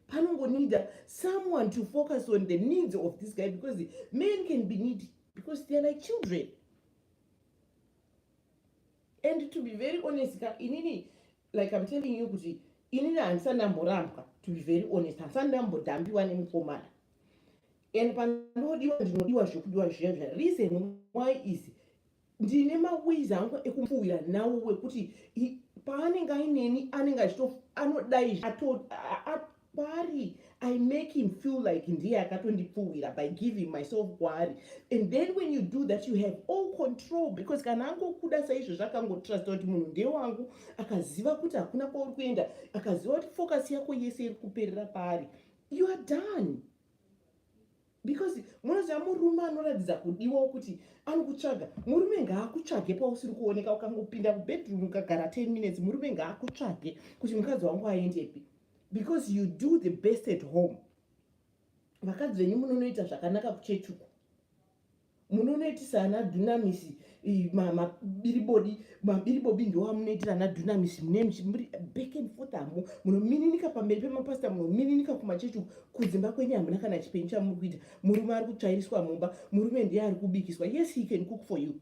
panongonida someone to focus on the needs of this guy because men can be need because theyare like children and to be very honest ka inini like im telling you kuti inini handisati ndamborambwa to be very honest handisati ndambodhambiwa nemukomana and pandodiwa ndinodiwa zvekudiwa zviya zviya reason why is ndine maways angu ekumfuwira nawo wekuti paanenge aineni anenge achito anodai kwaari i make him feel like ndiye akatondipfuwira by giving myself kwaari and then when you do that you have all control because kana angokuda saizvo zvakangotrust kuti munhu ndewangu akaziva kuti hakuna kwauri kuenda akaziva kuti focus yako yese iri kuperera paari you are done because munoziva murume anoratidza kudiwawo kuti anokutsvaga murume ngaakutsvage pausiri kuoneka ukangopinda kubedroom ukagara 10 minutes murume ngaakutsvage kuti mukadzi wangu aendepi because you do the best at home vakadzi venyu munonoita zvakanaka kuchechuku munonoitisa ana dunamis mabiribodi mabiribobi ndoamunoitira ana dunamis mune muri back and forth hamo munomininika pamberi pemapasita munomininika kumachechi kudzimba kwenyu hamuna kana chipenyu chamuri kuita murume ari kutsvairiswa mumba murume ndiye ari kubikiswa yes he can cook for you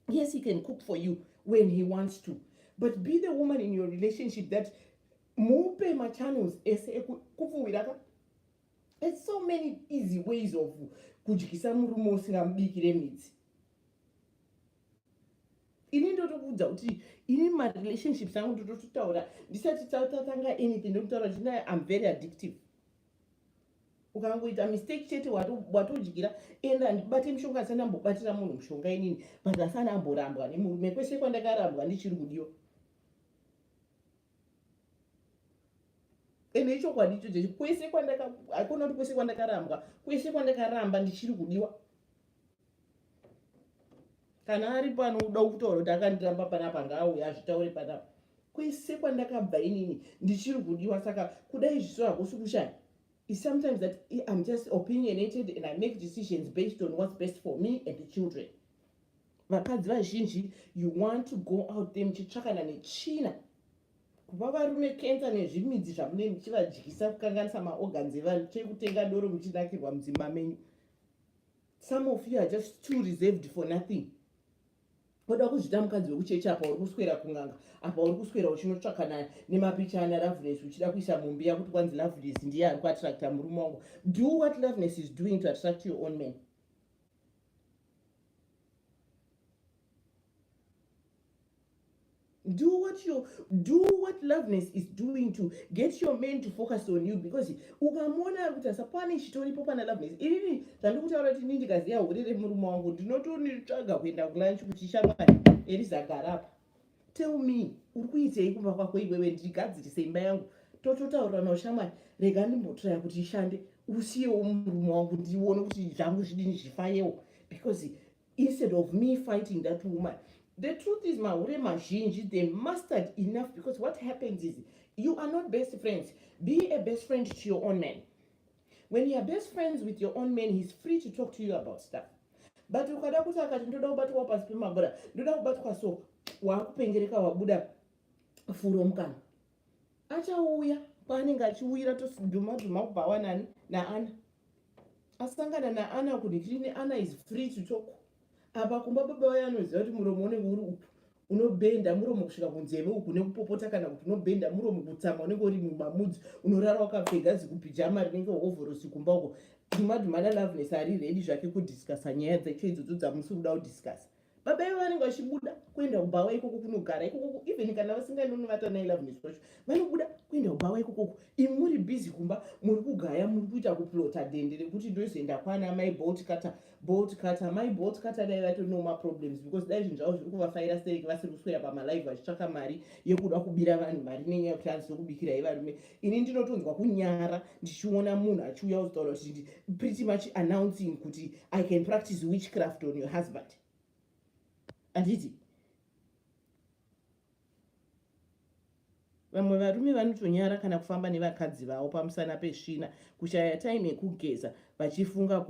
yes he can cook for you when he wants to but be the woman in your relationship that mupe machannels ese ekupfuwiraka There's so many easy ways of kudyisa murume usingamubikire midzi ini ndotokuudza kuti ini marelationships angu ndotototaura ndisati tatanga anything ndototaura kuti naye am very addictive ukangoita mistake chete watodyira and andibate mushonga asani ambobatira munhu mushonga inini but asani amborambwa nemurume kwese kwandakarambwa ndichiri kudiwa ende ichokwadi ichocho kwese kwandaka hakuna kuti kwese kwandakarambwa kwese kwandakaramba ndichiri kudiwa kana ari pano uda kutaura kuti akandiramba panapa ngaauya azvitaure panapa kwese kwandakabva inini ndichiri kudiwa saka kudai zviso hakusi kushaya is sometimes that i'm just opinionated and i make decisions based on what's best for me and the children vakadzi vazhinji you want to go out there muchitsvakana netsvina kupa varume kensa nezvimidzi zvamune muchivadyisa kukanganisa maorgans evanhu chekutenga doro muchinakirwa mudzimba menyu some of you are just too reserved for nothing oda kuzvita mukadzi wekuchechi apa uri kuswera kunganga apa uri kuswera uchinotsvakana nemapicha ana loveness uchida kuisa mumbi yakuti kwanzi loveness ndiye ari kuattracta murume wangu do what loveness is doing to attract your own man do what your do what loveness is doing to get your man to focus on you because ukamona ari kuti asapane chitoripo pana loveness inini zvandikutaura kuti ini ndikaziva hure remurume wangu ndinotonitsvaga kuenda kulunch kuti shamwari erizagara apa tell me uri kuitei kumba kwako iwewe ndigadzirise imba yangu tototaurirana ushamwari rega ndimbotiraya kuti ishande usiyewo murume wangu ndione kuti zvangu zvidini zvifayewo because instead of me fighting that woman the truth is mahure mazhinji they mastered enough because what happens is you are not best friends be a best friend to your own man when youare best friends with your own man heis free to talk to you about stuff but ukada kuti akati ndoda kubatwawo pasi pemabura ndoda kubatwa so waakupengereka wabuda furo mukana achauya kwaanenge achiuyira tosidhuma dhuma kubva wanani naana asangana naana kudikini ana is free to talk apa kumba baba vaye anoziva kuti muromo unenge uri upi unobenda muromo kusvika kunzeve uku nekupopota kana kuti unobenda muromo kutsamwa unenge uri mumamudzi unorara wakapfega zikupijama rinenge hovhorosi kumba uko dhumadhumana loveness ari redi zvake kudiscasa nyaya dzacho idzodzo dzamusiri kuda kudiscasa baba ivo vanenge vachibuda kuenda kubhawa ikoko kunogara ikokoko even kana vasinganonivata nai loveness wacho vanobuda kuenda kubhawa ikokoko imi muri busy kumba muri kugaya muri kuita kuplota dende rekuti ndozoenda kwana mai bolt kata bolt cutter mai bolt cutter dai vatori noma problems because dai zvinhu zvavo zviri kuvafaira stereki vasiri kuswera pamalive vachitsvaka mari yekuda kubira vanhu mari nenyaya yekuti hanzi ndokubikirai varume ini ndinotonzwa kunyara ndichiona munhu achiuya kuzitaura kuti pretty much announcing kuti i can practice witchcraft on your husband handiti vamwe varume vanotonyara kana kufamba nevakadzi vavo pamusana pesvina kushaya time yekugeza vachifunga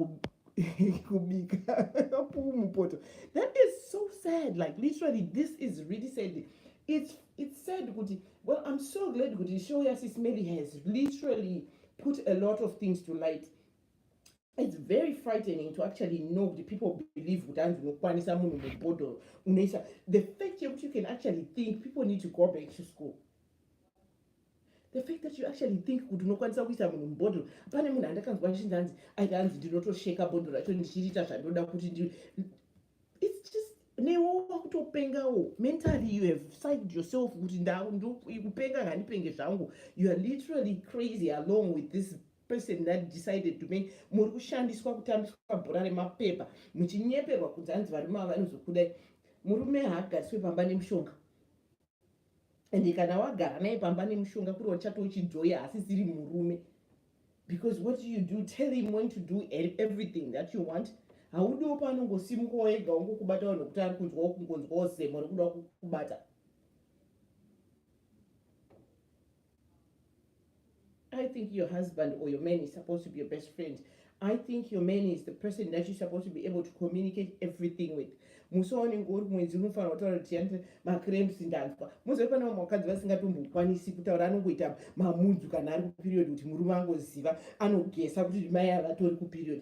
kubika puu mupoto that is so sad like literally this is really sad it's, it's sad kuti well i'm so glad kuti show yasis mary has literally put a lot of things to light It's very frightening to actually know kuti people believe kuti hanzi unokwanisa munhu mubhodhoro unoisa the fact yekuti you can actually think people need to go back to school the fact that you actually think kuti unokwanisa kuisa munhu mubhodhoro pane munhu andakanzwa achinzi hanzi aita hanzi ndinotosheka bhodhoro racho ndichiriita zvandoda kuti ndi its just newo wakutopengawo mentally you have psyched yourself kuti ndakupenga ngandipenge zvangu you are literally crazy along with this person that decided to make muri kushandiswa kutambiswa bhora remapepa muchinyeperwa kunzi hanzi varume ava vanozokudai murume haagariswe pamba nemushonga and kana wagara naye pamba nemushonga kuri wachati uchijoya asi siri murume because what you do tell him when to do e-, everything that you want haudiwo paanongosimuka wega wongokubata vanhu kuti ari kunzwa wokungonzwawo zemo rekuda kukubata I think your husband or your man is supposed to be your best friend. I think your man is the person that you're supposed to be able to communicate everything with. musoone ngori mwedzi unofanira kutaura kuti yandi macrems ndanzwa mozove pane vamwe vakadzi vasingatombokwanisi kutaura anongoita mamudzu kana ari kuperiod kuti murume angoziva anogesa kuti mai avatori kuperiod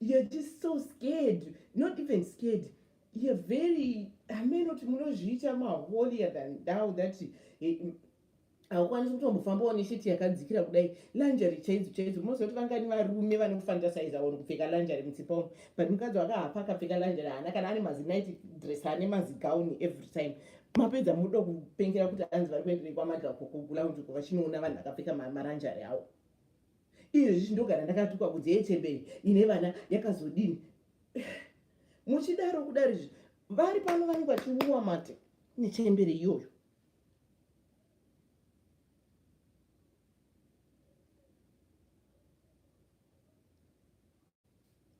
you're just so scared not even scared you're very ameno kuti munozviita maholier than thou that eh, haukwanisi kutombofambawo nesheti yakadzikira kudai lanjari chaidzo chaidzo unoziva kuti vangani varume vanofantasaiza vanhu kupfeka lanjari mutsipa uno but mukadzi wakahafa akapfeka lanjari haana kana ane mazinight dress ane mazigauni every time mapedza muda kupengera kuti anzi vari kuenderei kwamadhakokugula kuti vachinoona vanhu vakapfeka maranjari awo Iyo izvi ndogara ndakatukwa kunze yechembere ine vana yakazodini. Muchidaro kudari izvi vari pano vanenge vachiuwa mate nechembere iyoyo.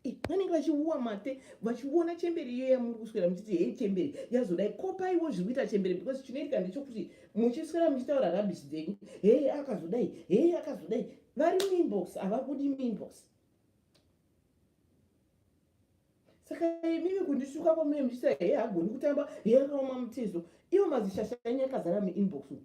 Eh, vanenge vachiuwa mate vachiona chembere iyo yamuri kuswera muchiti hei chembere yazodai kopaiwo zviri kuita chembere because chinoitika ndechokuti muchiswera muchitaura rabish dzenyu hei akazodai hei akazodai vari muinbox havabudi muinbox saka imimi kundisuka kwamune muchita hei hagoni kutamba hei akaoma mutezo ivo mazishasha enyu akazara muinbox umu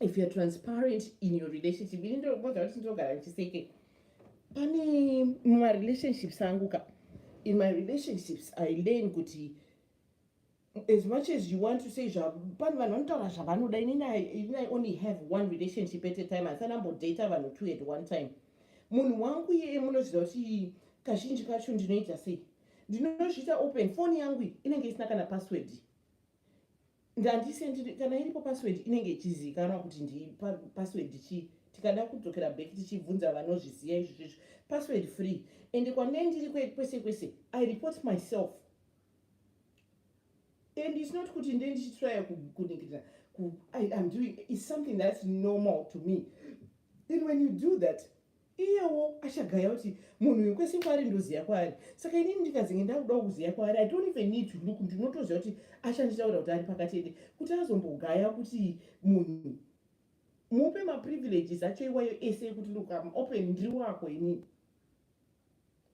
if youare transparent in your relationship ini ndinoboza kuti ndinogara ndichiseke pane mumarelationships angu ka in my relationships i learn kuti as much as you want to say pane vanhu vanotaura zvavanoda inini i only have one relationship at a time hasana mbodata vanhu two at one time munhu wangu iyeye munoziva kuti kazhinji kacho ndinoita sei ndinozviita open foni yangu inenge isina kana password ndandisendiri kana iripo password inenge ichizivikanwa kuti ndi password chii tikada kudzokera back tichibvunza vanozviziva izvi zvezvo password free ende kwane ndiri kwese kwese i report myself and its not kuti nde ndichitraya kuningirira iam doing is something thats normal to me then when you do that iyewo achagaya kuti munhu uyu kwese kwaari ndoziva kwaari saka inini ndikazenge ndakudawo kuziva kwaari i don't even need to look ndinotoziva kuti achanditaura kuti ari pakatende kuti azombogaya kuti munhu mupe maprivileges acho iwayo ese ekuti look am open ndiri wako inini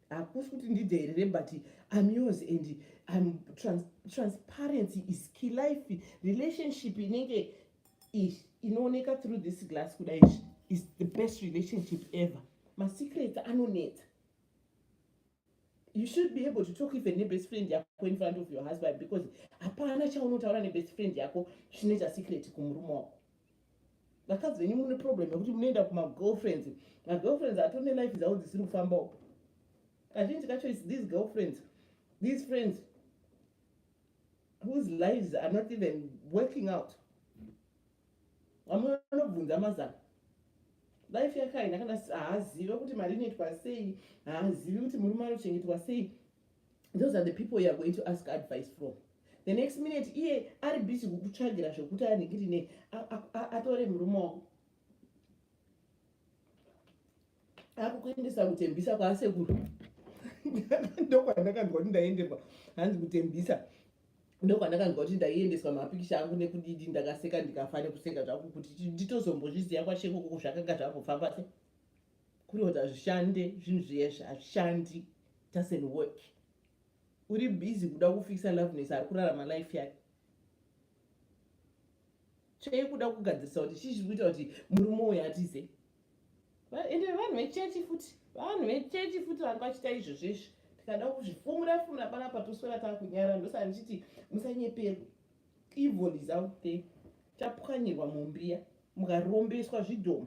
hakusi kuti ndidheerere but im yours and im trans, transparency is key life relationship inenge inooneka through this glass kudai is the best relationship ever masecrets anonetsa you should be able to talk even nebest friend yako in front of your husband because hapana chaunotaura nebest friend yako chine chasecret kumurume wako vakadzi venyu mune problem yekuti munoenda kumagirlfriends magirlfriends atone life dzavo dzisiri kufambawo kazhinji kacho is these girlfriends these friends whose lives are not even working out vamwe vanobvunza mazana life yake haina kana haazive kuti mari inoitwa sei haazivi kuti murume anochengetwa sei those are the people youare going to ask advice from the next minute iye ari busy kukutsvagira zvekuti aningiri nei atore murume wako akukuendesa kutembisa kwaasekuru ndokwandakanzwa kuti ndaenderwa hanzi kutembisa ndokwandakanzwa kuti ndaiendeswa mapikisha angu nekudidi ndakaseka ndikafa nekuseka zvaku kuti nditozombozviziva kwashekokoko zvakanga zvambofamba se kuri kuti hazvishande zvinhu zviyezvi hazvishandi doesn't work uri busy kuda kufikisa loveness ari kurarama life yake tsvei kuda kugadzirisa kuti chii chiri kuita kuti murume uyo atize ende vanhu vechechi futi vanhu vechechi futi vanhu vachiita izvo zvizvi tikada kuzvifumura fumura panapa toswera taa kunyara ndosaka ndichiti musanyeperwe evil is out there tapwanyirwa mumbiya mukarombeswa zvidhomo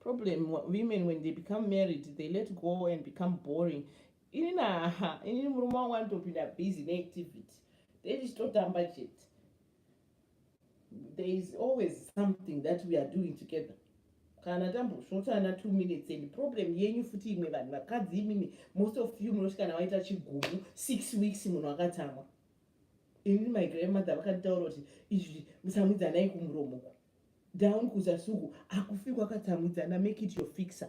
problem women when they become married they let go and become boring ini naha inini murume wangu anotopinda busy neactivity tetichitotamba chete there is always something that we are doing together kana tambosvotana two minutes and problem yenyu futi imwe vanhu vakadzi imimi most of you munoti kana waita chigumu six weeks munhu akatsamwa inini my grandmother vakanditaura kuti izvi musamwidzanai kumuromo ku down kuzasi uku akufikwa akatsamwidzana make it your fixer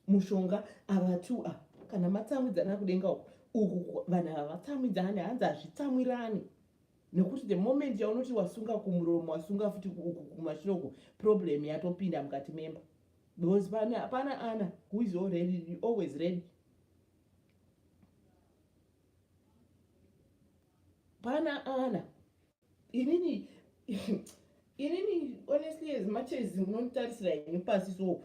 mushonga ava two a kana matsamwidzana kudenga uku uku vanhu ava vatsamwidzane hanzi hazvitsamwirani nekuti the moment yaunoti wasunga kumuromo wasunga futi uku kumashure uku problem yatopinda mukati memba because hapana ana who is already always ready pana ana inini inini honestly as much as munonditarisira ini pasi so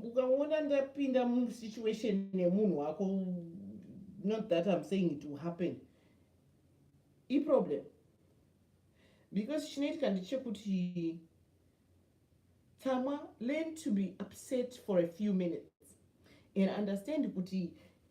ukaona ndapinda musituation nemunhu wako not that im saying it will happen iproblem because chinoitika ndechekuti tsamwa learn to be upset for a few minutes and understand kuti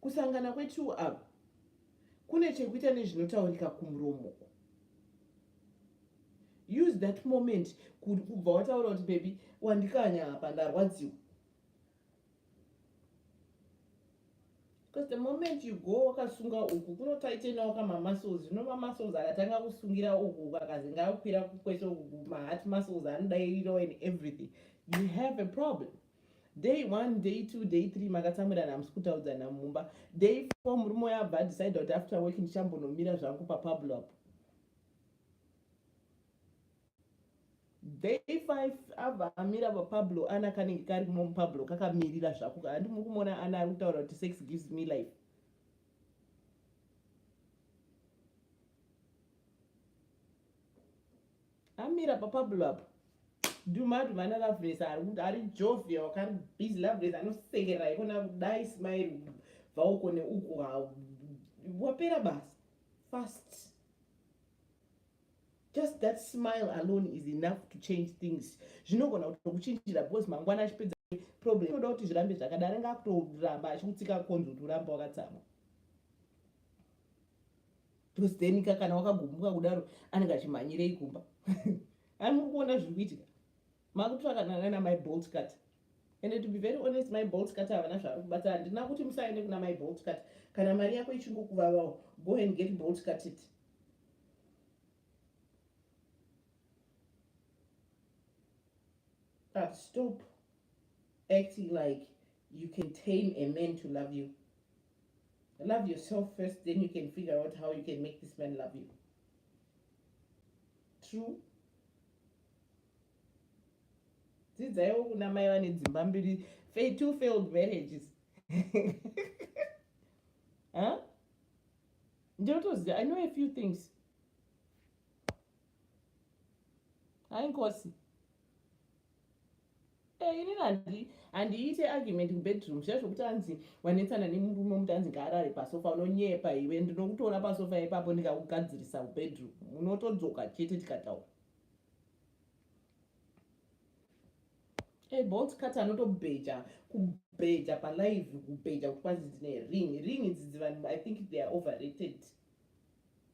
kusangana kwetwo ava kune chekuita nezvinotaurika kumuromo use that moment kubva wataura kuti bebi wandikanya apa ndarwadziwa because the moment you go wakasunga uku kunotaitenawo kamamuscles zvino mamuscles akatanga kusungira uku uku akazinga akwira kukwese uku maheart muscles anodairirawo and everything you have a problem day one day two day three makatsamwirana hamusi kutaudzana mumba day four murume uyo abva adecide kuti after work ndichambonomira zvangu papablo apo day five abva amira papablo ana kanenge kari kumo mupablo kakamirira zvako kahandi muri kumona ana ari kutaura kuti sex gives me life amira papablo apo dumadu vana lavres ari jovia wakari busy lavres anosekerera ikona kudai smile bvauko neuku wapera basa fast just that smile alone is enough to change things zvinogona kutokuchinjira because mangwana achipedza problem inoda kuti zvirambe zvakadai anenge akutoramba achikutsika konzi kuti urambe wakatsamwa plus then ka kana wakagumbuka kudaro anenge achimhanyirei kumba ai muri kuona zviri kuitika makutsvakanana namai bolt cut and to be very honest mai bolt cut havana zvavari kubata handina kuti musaende kuna mai bolt cut kana mari yako ichingokuvavawo go and get bolt cut it But stop acting like you can tame a man to love you. Love yourself first, then you can figure out how you can make this man love you. True. dzidzaiwo kuna mai vane dzimba mbiri two failed marriages huh? ndotoziva i know a few things hainkosi Eh, inini handi handiite argument kubedroom zviya zvokuti anzi wanetsana nemurume omuti anzi ngaarare pasofa unonyepa iwe ndinokutora pasofa ipapo ndikakugadzirisa kubedroom unotodzoka chete tikataura e eh, bolt cut anotobheja kubheja palive kubheja kuti kwanzi dzine ring ring idzi dzivanhu i think they are overrated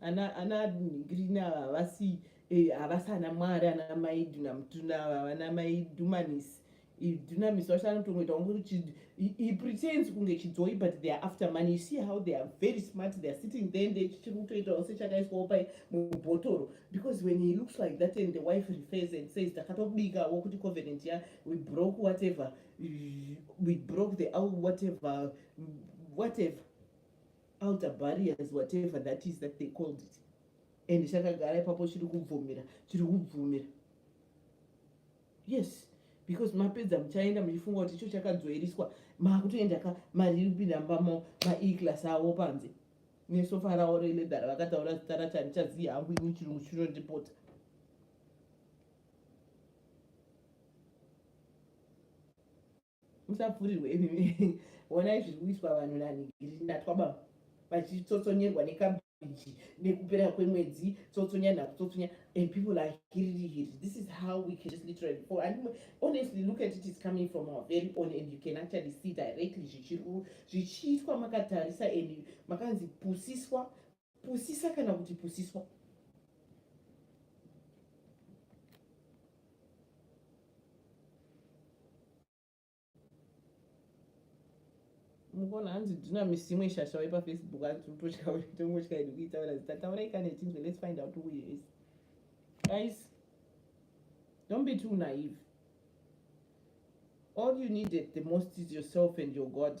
ana ana green ava havasi eh, havasi ana mwari ana mai dunamutuna ava vana mai dumanis dunamis vacho anotongoita kunge he pretends kunge chidzoi but they are after money you see how they are very smart they are sitting there nde chichiri kutoitawo sechakaiswawo pai mubhotoro because when he looks like that and the wife refers and says takatobikawo kuti covenant ya we broke whatever we broke the whatever whatever outer barriers whatever that is that they called it and chakagara ipapo chiri kubvumira chiri kubvumira yes because mapedza muchaenda muchifunga kuti icho chakadzoeriswa makutoenda ka mari iri kupinda mba mao maeclass avo panze nesofa ravo reledhara vakataura zita racho handichaziva hangu ini chirungu chinondipota musapfurirwe wonai zviri kuitwa vanhu nanhigiri natwaba vachitsotsonyerwa nekabiji nekupera kwemwedzi tsotsonya nakutsotsnya and people are hiririhiri this is how we can just literally for and honestly look at it is coming from our very own and you can actually see directly zvichiitwa makatarisa and makanzi pusiswa pusisa kana kuti pusiswa mukuona hanzi ndina misi imwe shasha waipa facebook hanzi utotya tongotya idi kuitaura zita taurai kana ichinzwe let's find out who is guys don't be too naive all you needed the most is yourself and your god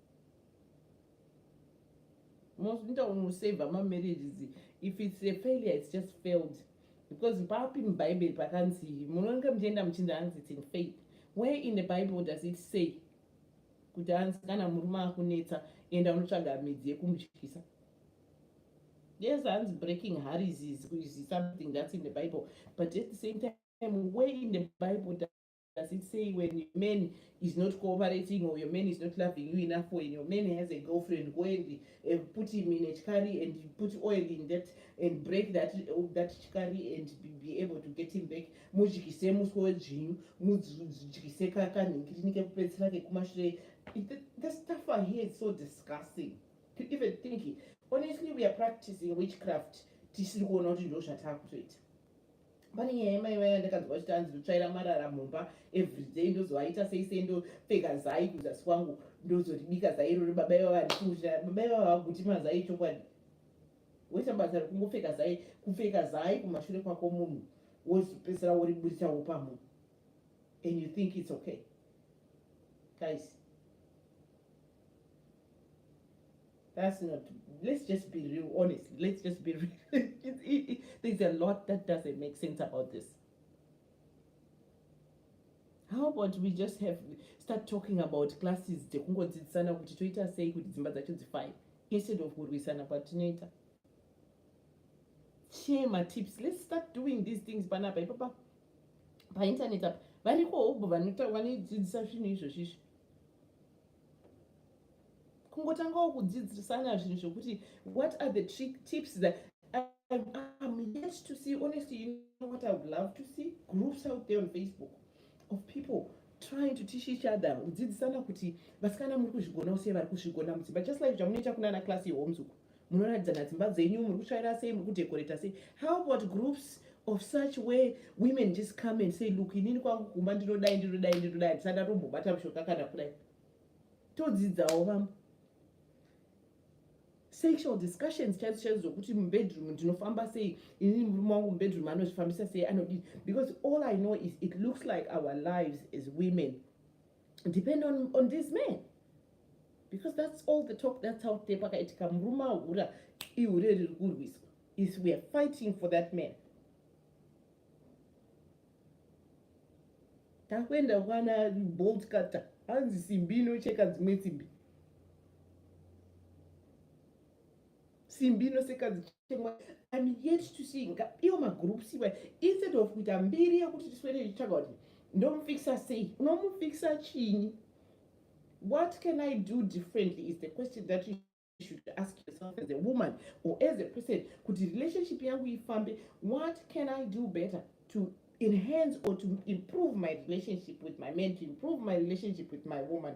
unoita unosavha mamarriages if its a failure its just failed because papi mubhaibheri pakanzi munonge muchienda muchinzi hanzi its in faith where in the bible does it say kuti hanzi kana murume akunetsa enda unotsvaga midzi yekumutyisa yes hanzi breaking harries is something that's in the bible but at the same time where in the bible does it say when your man is not cooperating or your man is not loving you enough when your man has a girlfriend go and uh, put him in a chikari and put oil in that and break that uh, that chikari and be, be able to get him back mudyise muswe wedzvinyu mudyise kanhingirini kekupedzisira kekumashure the, the stuff i hear is so disgusting to even think it. honestly we are practicing witchcraft tisiri kuona kuti ndo zvatakutoita pane nyaya yemai vaya ndakanzwa vachiti hanzi ndotsvaira marara mumba everyday ndozovaita sei sei ndopfeka zai kuzasi kwangu ndozoribika zai irori baba ivava ndikuuira baba ivava vaguti mazai chokwadi woita basa rekungopfeka zai kupfeka zai kumashure kwako munhu wozopedzisira woriburitawo pamunhu and you think it's okay guys That's not, let's just be real, honestly, let's just be real. it, it, it, there's a lot that doesn't make sense about this. How about we just have, start talking about classes dzekungodzidzisana kuti toita sei kuti dzimba dzacho dzifine instead of kurwisana kwatinoita share my tips let's start doing these things panapa ipapa painternet apa variko hobho vanodzidzisa zvinhu izvozvizvi kungotangawo kudzidzisana zvinhu zvokuti what are the tips that I'm yet to see, honestly, you know what I would love to see? Groups out there on Facebook of people trying to teach each other kudzidzisana kuti vasikana muri kuzvigona use vari kuzvigona mudzimba just like zvamunoita kunana class yehomes uku munoratidzana dzimba dzenyu muri kutsvaira sei muri kudekoreta sei how about groups of such way women just come and say look inini kwangu kumba ndinodai ndinodai ndinodai handisati atombobata mushonga kana kudai todzidzawo vamwe sexual discussions chaidzo chaidzo dzokuti mubedroom ndinofamba sei inini murume wangu mubedroom anozvifambisa sei anodii because all i know is it looks like our lives as women depend on, on this man because that's all the talk that's out there pakaitika murume ahura ihure riri kurwiswa is we are fighting for that man takuenda kwana bolt cutter hanzi simbi inocheka dzimwe simbi simbi inoseka I'm yet to see nga iyo magroups iwe instead of kuita mbiri yekuti tiswere tichitsvaga kuti ndomufikisa sei unomufikisa chini what can i do differently is the question that you should ask yourself as a woman or as a person kuti relationship yangu ifambe what can i do better to enhance or to improve my relationship with my man to improve my relationship with my woman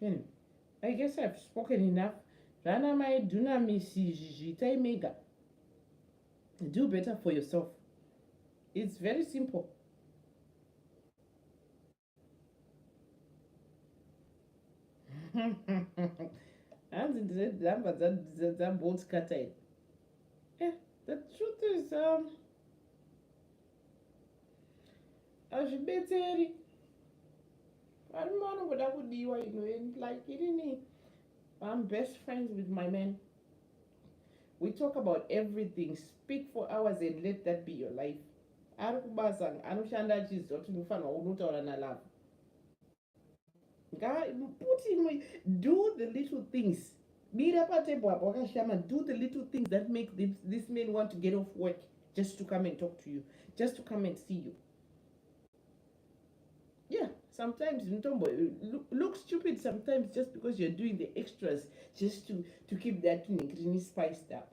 Anyway, I guess I've spoken enough. Zvana mai dunamis izvi zviitai mega. Do better for yourself. It's very simple. hanzi ndine nhamba dzabolt cutter eh, the truth is um, hazvibetseri varume vanongoda kudiwa you know and like irini i'm best friends with my man we talk about everything speak for hours and let that be your life ari kubasa anoshanda achiziva kuti ndinofanirwa unotaura nalove put in do the little things mira patable apo wakashama do the little things that make this, this man want to get off work just to come and talk to you just to come and see you yeah sometimes mutombo look stupid sometimes just because you're doing the extras just to, to keep that thing spice up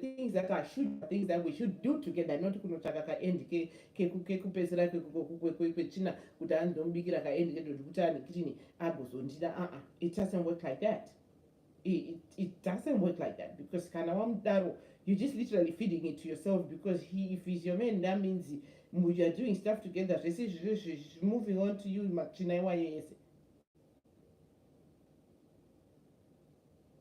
things that are should things that we should do together not kunotsvaka kaendi kekupedzisira kwetsvina kuti andomubikira kaendi kedodikuti ane kitini agozondida aa it doesn't work like that it, it doesn't work like that because kana wamudaro you just literally feeding it to yourself because he if he's your man that means you are doing stuff together zvese izvizvi moving on to you matsvina iwayo yese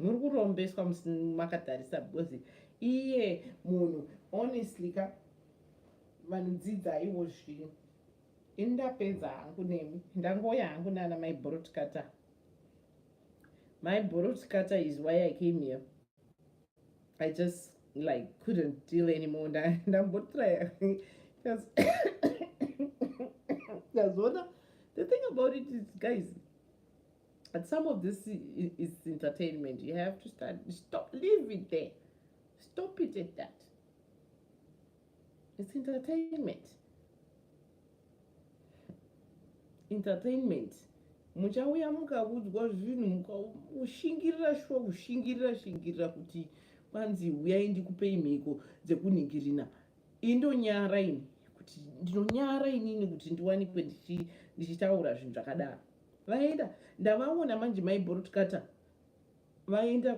muri kurombeswa makatarisa because iye munhu honestly ka vanhu dzidzaiwo zvino ini ndapedza hangu nemi ndangoya hangu nana mai borotkata my borotkata is why i came here i just like couldn't deal anymore ndambotraya because that's what the thing about it is guys But some of this is entertainment. You have to start, stop, leave it there. Stop it at that. It's entertainment. Entertainment. muchauya mukakudzwa zvinhu mukushingirira shuwa kushingirira shingirira kuti kwanzi uyai ndikupei mhiko dzekunhingirina indonyara ini kuti ndinonyara inini kuti ndiwanikwe ndichitaura zvinhu zvakadaro vaenda ndavaona manje mai bolt cutter vaenda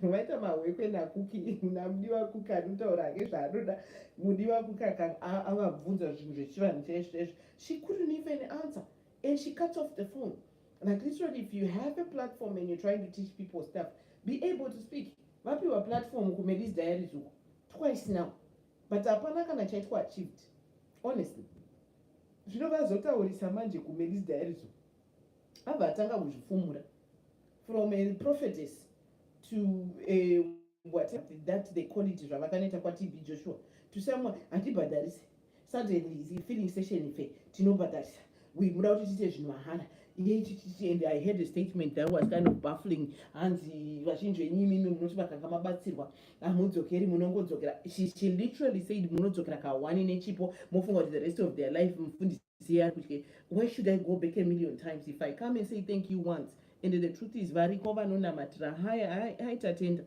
vaita mahwekwe nakuki namudiwa kuki anotaura hake zvaanoda mudiwa kuki akavabvunza zvinhu zvechivanhu chaizvoizvo she couldn't even answer and she cuts off the phone like literally if you have a platform and you're trying to teach people stuff be able to speak vapiwa platform kumadis diaries uko twice now but hapana kana chaitwa achieved honestly zvino vazotaurisa manje kumelis diarizo abva atanga kuzvifumura from a prophetess to a what that they call it zvavakanoita kwatb joshua to someone hatibhadharise suddenly is feeling session fe tinobhadharisa we muda kuti tiite zvinhu mahara and i had a statement that was kind of baffling hanzi vazhinji venyu imimi munoti makanga mabatsirwa hamudzokeri munongodzokera she, she literally said munodzokera kahwani nechipo mofunga kuti the rest of their life mufundisi yeari kutye why should i go back a million times if i come and say thank you once and the truth is variko vanonamatira haya aitatenda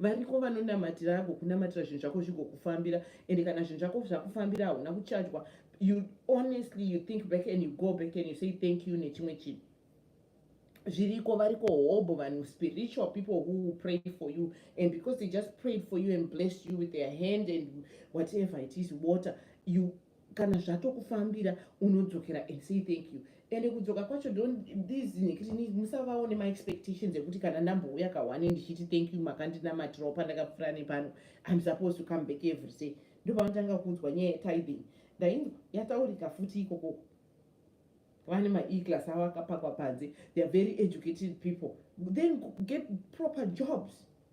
variko vanonamatira agokunamatira zvinhu zvako zvigokufambira ende kana zvinhu zvako zvakufambira hauna kuchajwa you honestly you think back and you go back and you say thank you nechimwe chinhu zviriko variko hobho vanhu spiritual people who pray for you and because they just prayed for you and blessed you with their hand and whatever it is water you kana zvatokufambira unodzokera and say thank you ende kudzoka kwacho ndondizinekiti musavawo nemaexpectations ekuti kana ndambouya kahwani ndichiti thank you makandinamatirawo pandakapfura nepano im supposed to come back every day ndopavanotanga kuudzwa nyaya yetithing ndainzwa yataurika futi ikoko vane maeclass avo akapakwa panze theyare very educated people then get proper jobs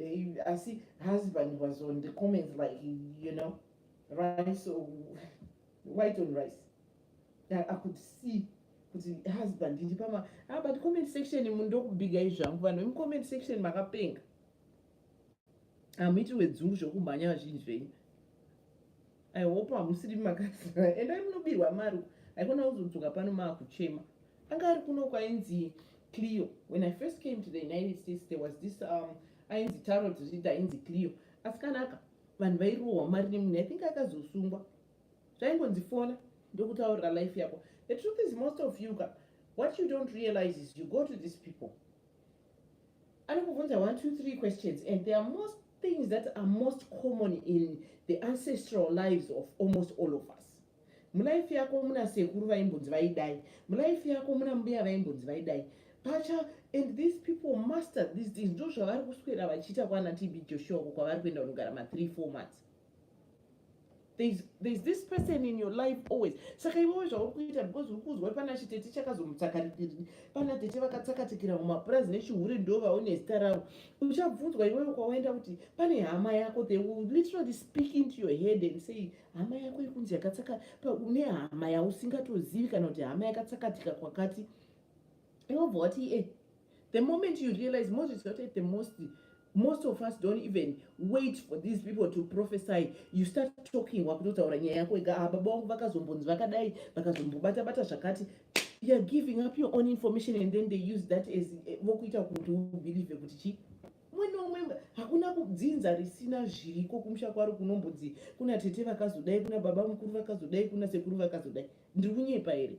Eh, I see husband was on the comments like, you know, rice or white on rice. I, I could see kuti husband ndi pama ah, but comment section mundokubiga izvangu vanhu vemucomment section makapenga hamuiti wedzungu zvokumhanya vazhinji zvenyu i hope hamusiri makasira endai munobirwa mari haikona kuzodzoka pano maakuchema anga ari kuno kwainzi cleo when i first came to the united states there was this um, ainzi taro dzozviti ainzi cleo asi kanaka vanhu vairohwa mari nemunhu i think akazosungwa zvaingonzi fona ndokutaurira life yako the truth is most of you ka what you don't realize is you go to these people anokubvunza 1 2 3 questions and there are most things that are most common in the ancestral lives of almost all of us mulife yako muna sekuru vaimbonzi vaidai mulife yako muna mbuya vaimbonzi vaidai pacha and these people master these things ndo zvavari kuswera vachiita kwana tb joshua ko kwavari kuenda kunogara ma3 4 months there's, there's this person in your life always saka iwewe zvauri kuita because uri kuzwa pana chitete chakazomutsakarikirini pana tete vakatsakatikira mumapurazi nechihure ndo vaone zita ravo uchabvunzwa iwewe kwawaenda kuti pane hama yako they will literally speak into your head and say hama yako ikunzi yakatsaka une hama yausingatozivi kana kuti hama yakatsakatika kwakati iwobva wati e eh, the moment you realize mozviziva kuti at the most most of us don't even wait for these people to prophesy you start talking wakutotaura nyaya yako ega ah, baba wangu vakazombonzi vakadai vakazombobata bata zvakati youare giving up your own information and then they use that as eh, vokuita kuti ubelieve kuti chii umwe neumwe hakuna kudzinza risina zviriko kumusha kwaro kunombodzi kuna tete vakazodai kuna baba mukuru vakazodai kuna sekuru vakazodai ndiri kunyepa here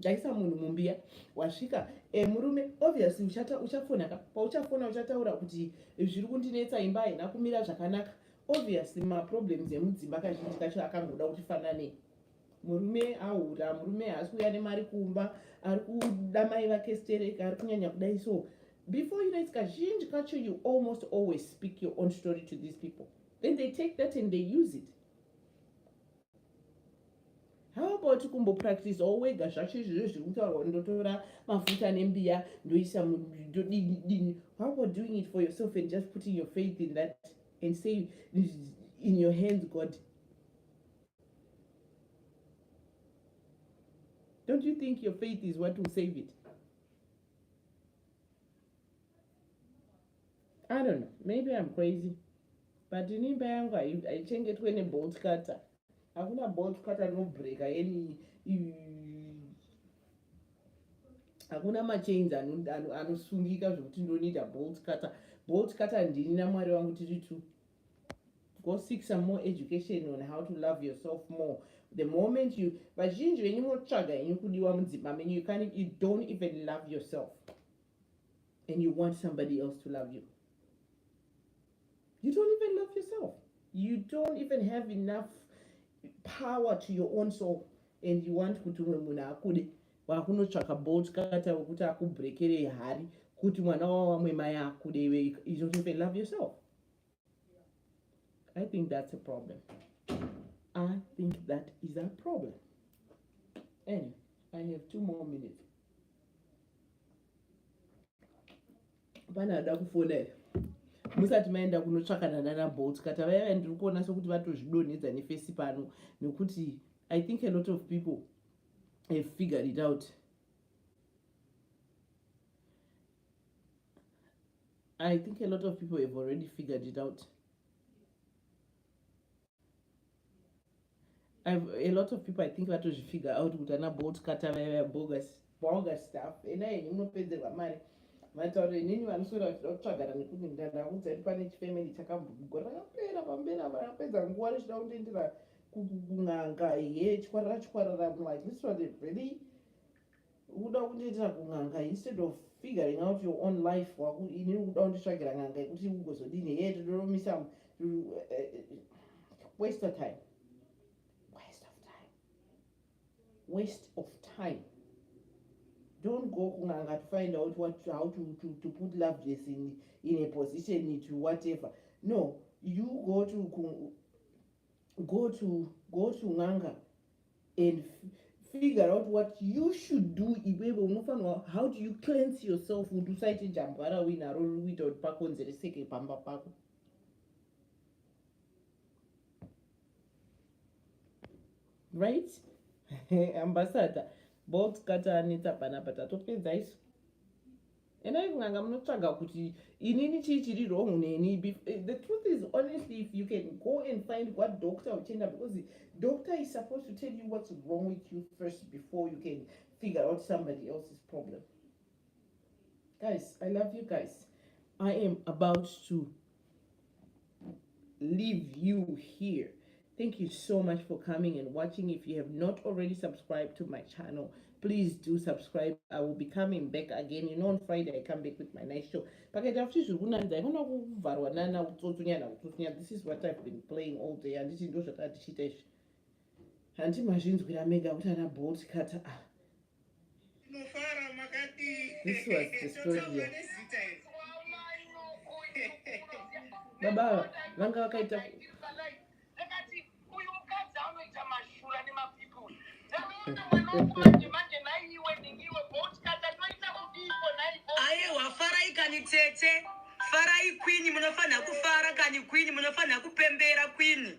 ndaisa munhu mumbiya wasvika e, murume obviously uchata uchafona ka pauchafona uchataura kuti zviri kundinetsa imba haina kumira zvakanaka obviously maproblems emudzimba kazhinji kacho akangoda kuti fanane murume ahura murume haasi kuuya nemari kumba ari kuda mai vake sterek ari kunyanya kudai so before you know it's kazhinji kacho you almost always speak your own story to these people then they take that and they use it how about kumbopractice wo wega zvacho izvizvo zviri kutaurwa ndotora mafuta nembiya ndoisa ndodinidini how about doing it for yourself and just putting your faith in that and say in your hands god don't you think your faith is what will save it I don't know, maybe I'm crazy but ini imba yangu haichengetwe nebolt cutter hakuna bolt cutter rinobreaka any hakuna machains anosungika zvekuti ndonida bolt cutter bolt cutter ndini namwari wangu tiri two go seek some more education on how to love yourself more the moment you vazhinji venyu motsvaga henyu kudiwa mudzimba menyu you, you don't even love yourself and you want somebody else to love you you don't even love yourself you don't even have enough power to your own soul and you want kuti umwe munhu akude wakunotsvaka bolt kata wekuti akubrekerei hari kuti mwana wawamwe mai akude iwe you don't even love yourself I think that's a problem. I think that is a problem. Anyway, I have two more minutes. Vana vada kufonera musati maenda kunotsvakana nana bolt kata vaya vaya ndiri kuona sekuti vatozvidonhedza nefesi pano nekuti i think a lot of people have figured it out I think a lot of people have already figured it out. I've, a lot of people I think vatozvifigure out kuti ana bolt kata vaya bogus bogus stuff ena yenyu unopedzerwa mari matauro inini vanoswera vachida kutsvagana nekuti ndandakudza kuti pane chifamily chakambogora rakapera pamberi apa rakapedza nguva richida kundiendera kun'anga ye chikwarara chikwarara munhu at least vati really ukuda kundiitira kun'anga instead of figuring out your own life waku ini ukuda kunditsvagira n'anga yekuti ugozodini hee todoromisa waste of time waste of time waste of time don't go kun'anga to find out what how to, to, to put love dress in, in a position to whatever no you go to go to go to n'anga and figure out what you should do iwewe unofanirwa how do you cleanse yourself kuti usaite jambwa rauinaro riri kuita kuti pakonzereseke pamba pako right ambassador box katanetsa panapa tatopedza isu endai kun'anga munotsvaga kuti inini chii chiri wrong neni eh, the truth is honestly if you can go and find what doctor uchienda because doctor is supposed to tell you what's wrong with you first before you can figure out somebody else's problem guys i love you guys i am about to leave you here thank you so much for coming and watching if you have not already subscribed to my channel please do subscribe i will be coming back again you know on friday i come back with my night show pakaita futi zviri kunanidza ikona kuvharwa nana kutsotsunya nakutsotsunya this is what i've been playing all day handiti ndo zvatatichiita izvi handiti mazvinzwira mega kuti ana bolt cutter ah This was destroyed here. Baba vanga vakaita aiwa farai kani tete farai kwini munofanira kufara kani kwini munofanira kupembera kwini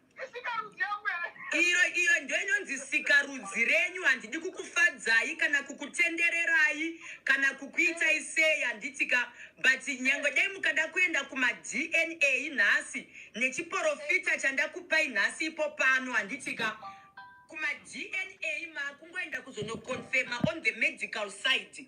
iro iyo ndoinonzi sikarudzi renyu handidi kukufadzai kana kukutendererai kana kukuitai sei handitika but nyange dai mukada kuenda kumadna nhasi nechiporofita chandakupai nhasi ipo pano handitika kumadna makungoenda kuzonoconfirma on the medical side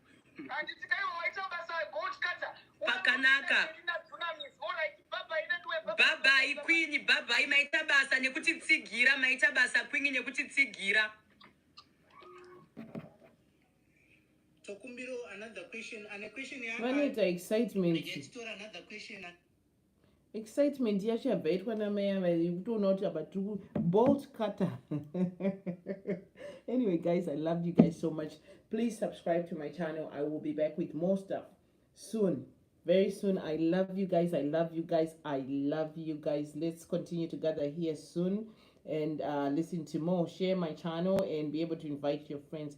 Handiti kaiwa waita basa gold cutter. Pakanaka. Bhabhai kwini, bhabhai maita basa nekuti tsigira, maita basa kwini nekuti tsigira. Tokumbiro another question, ane question yaka. Vanoita excitement. Ndichitora another question. excitement yacho yabva yaitwa namai ava yekutoona kuti apa tiri kubolt cutter anyway guys i love you guys so much please subscribe to my channel i will be back with more stuff soon very soon i love you guys i love you guys i love you guys let's continue to gather here soon and uh, listen to more share my channel and be able to invite your friends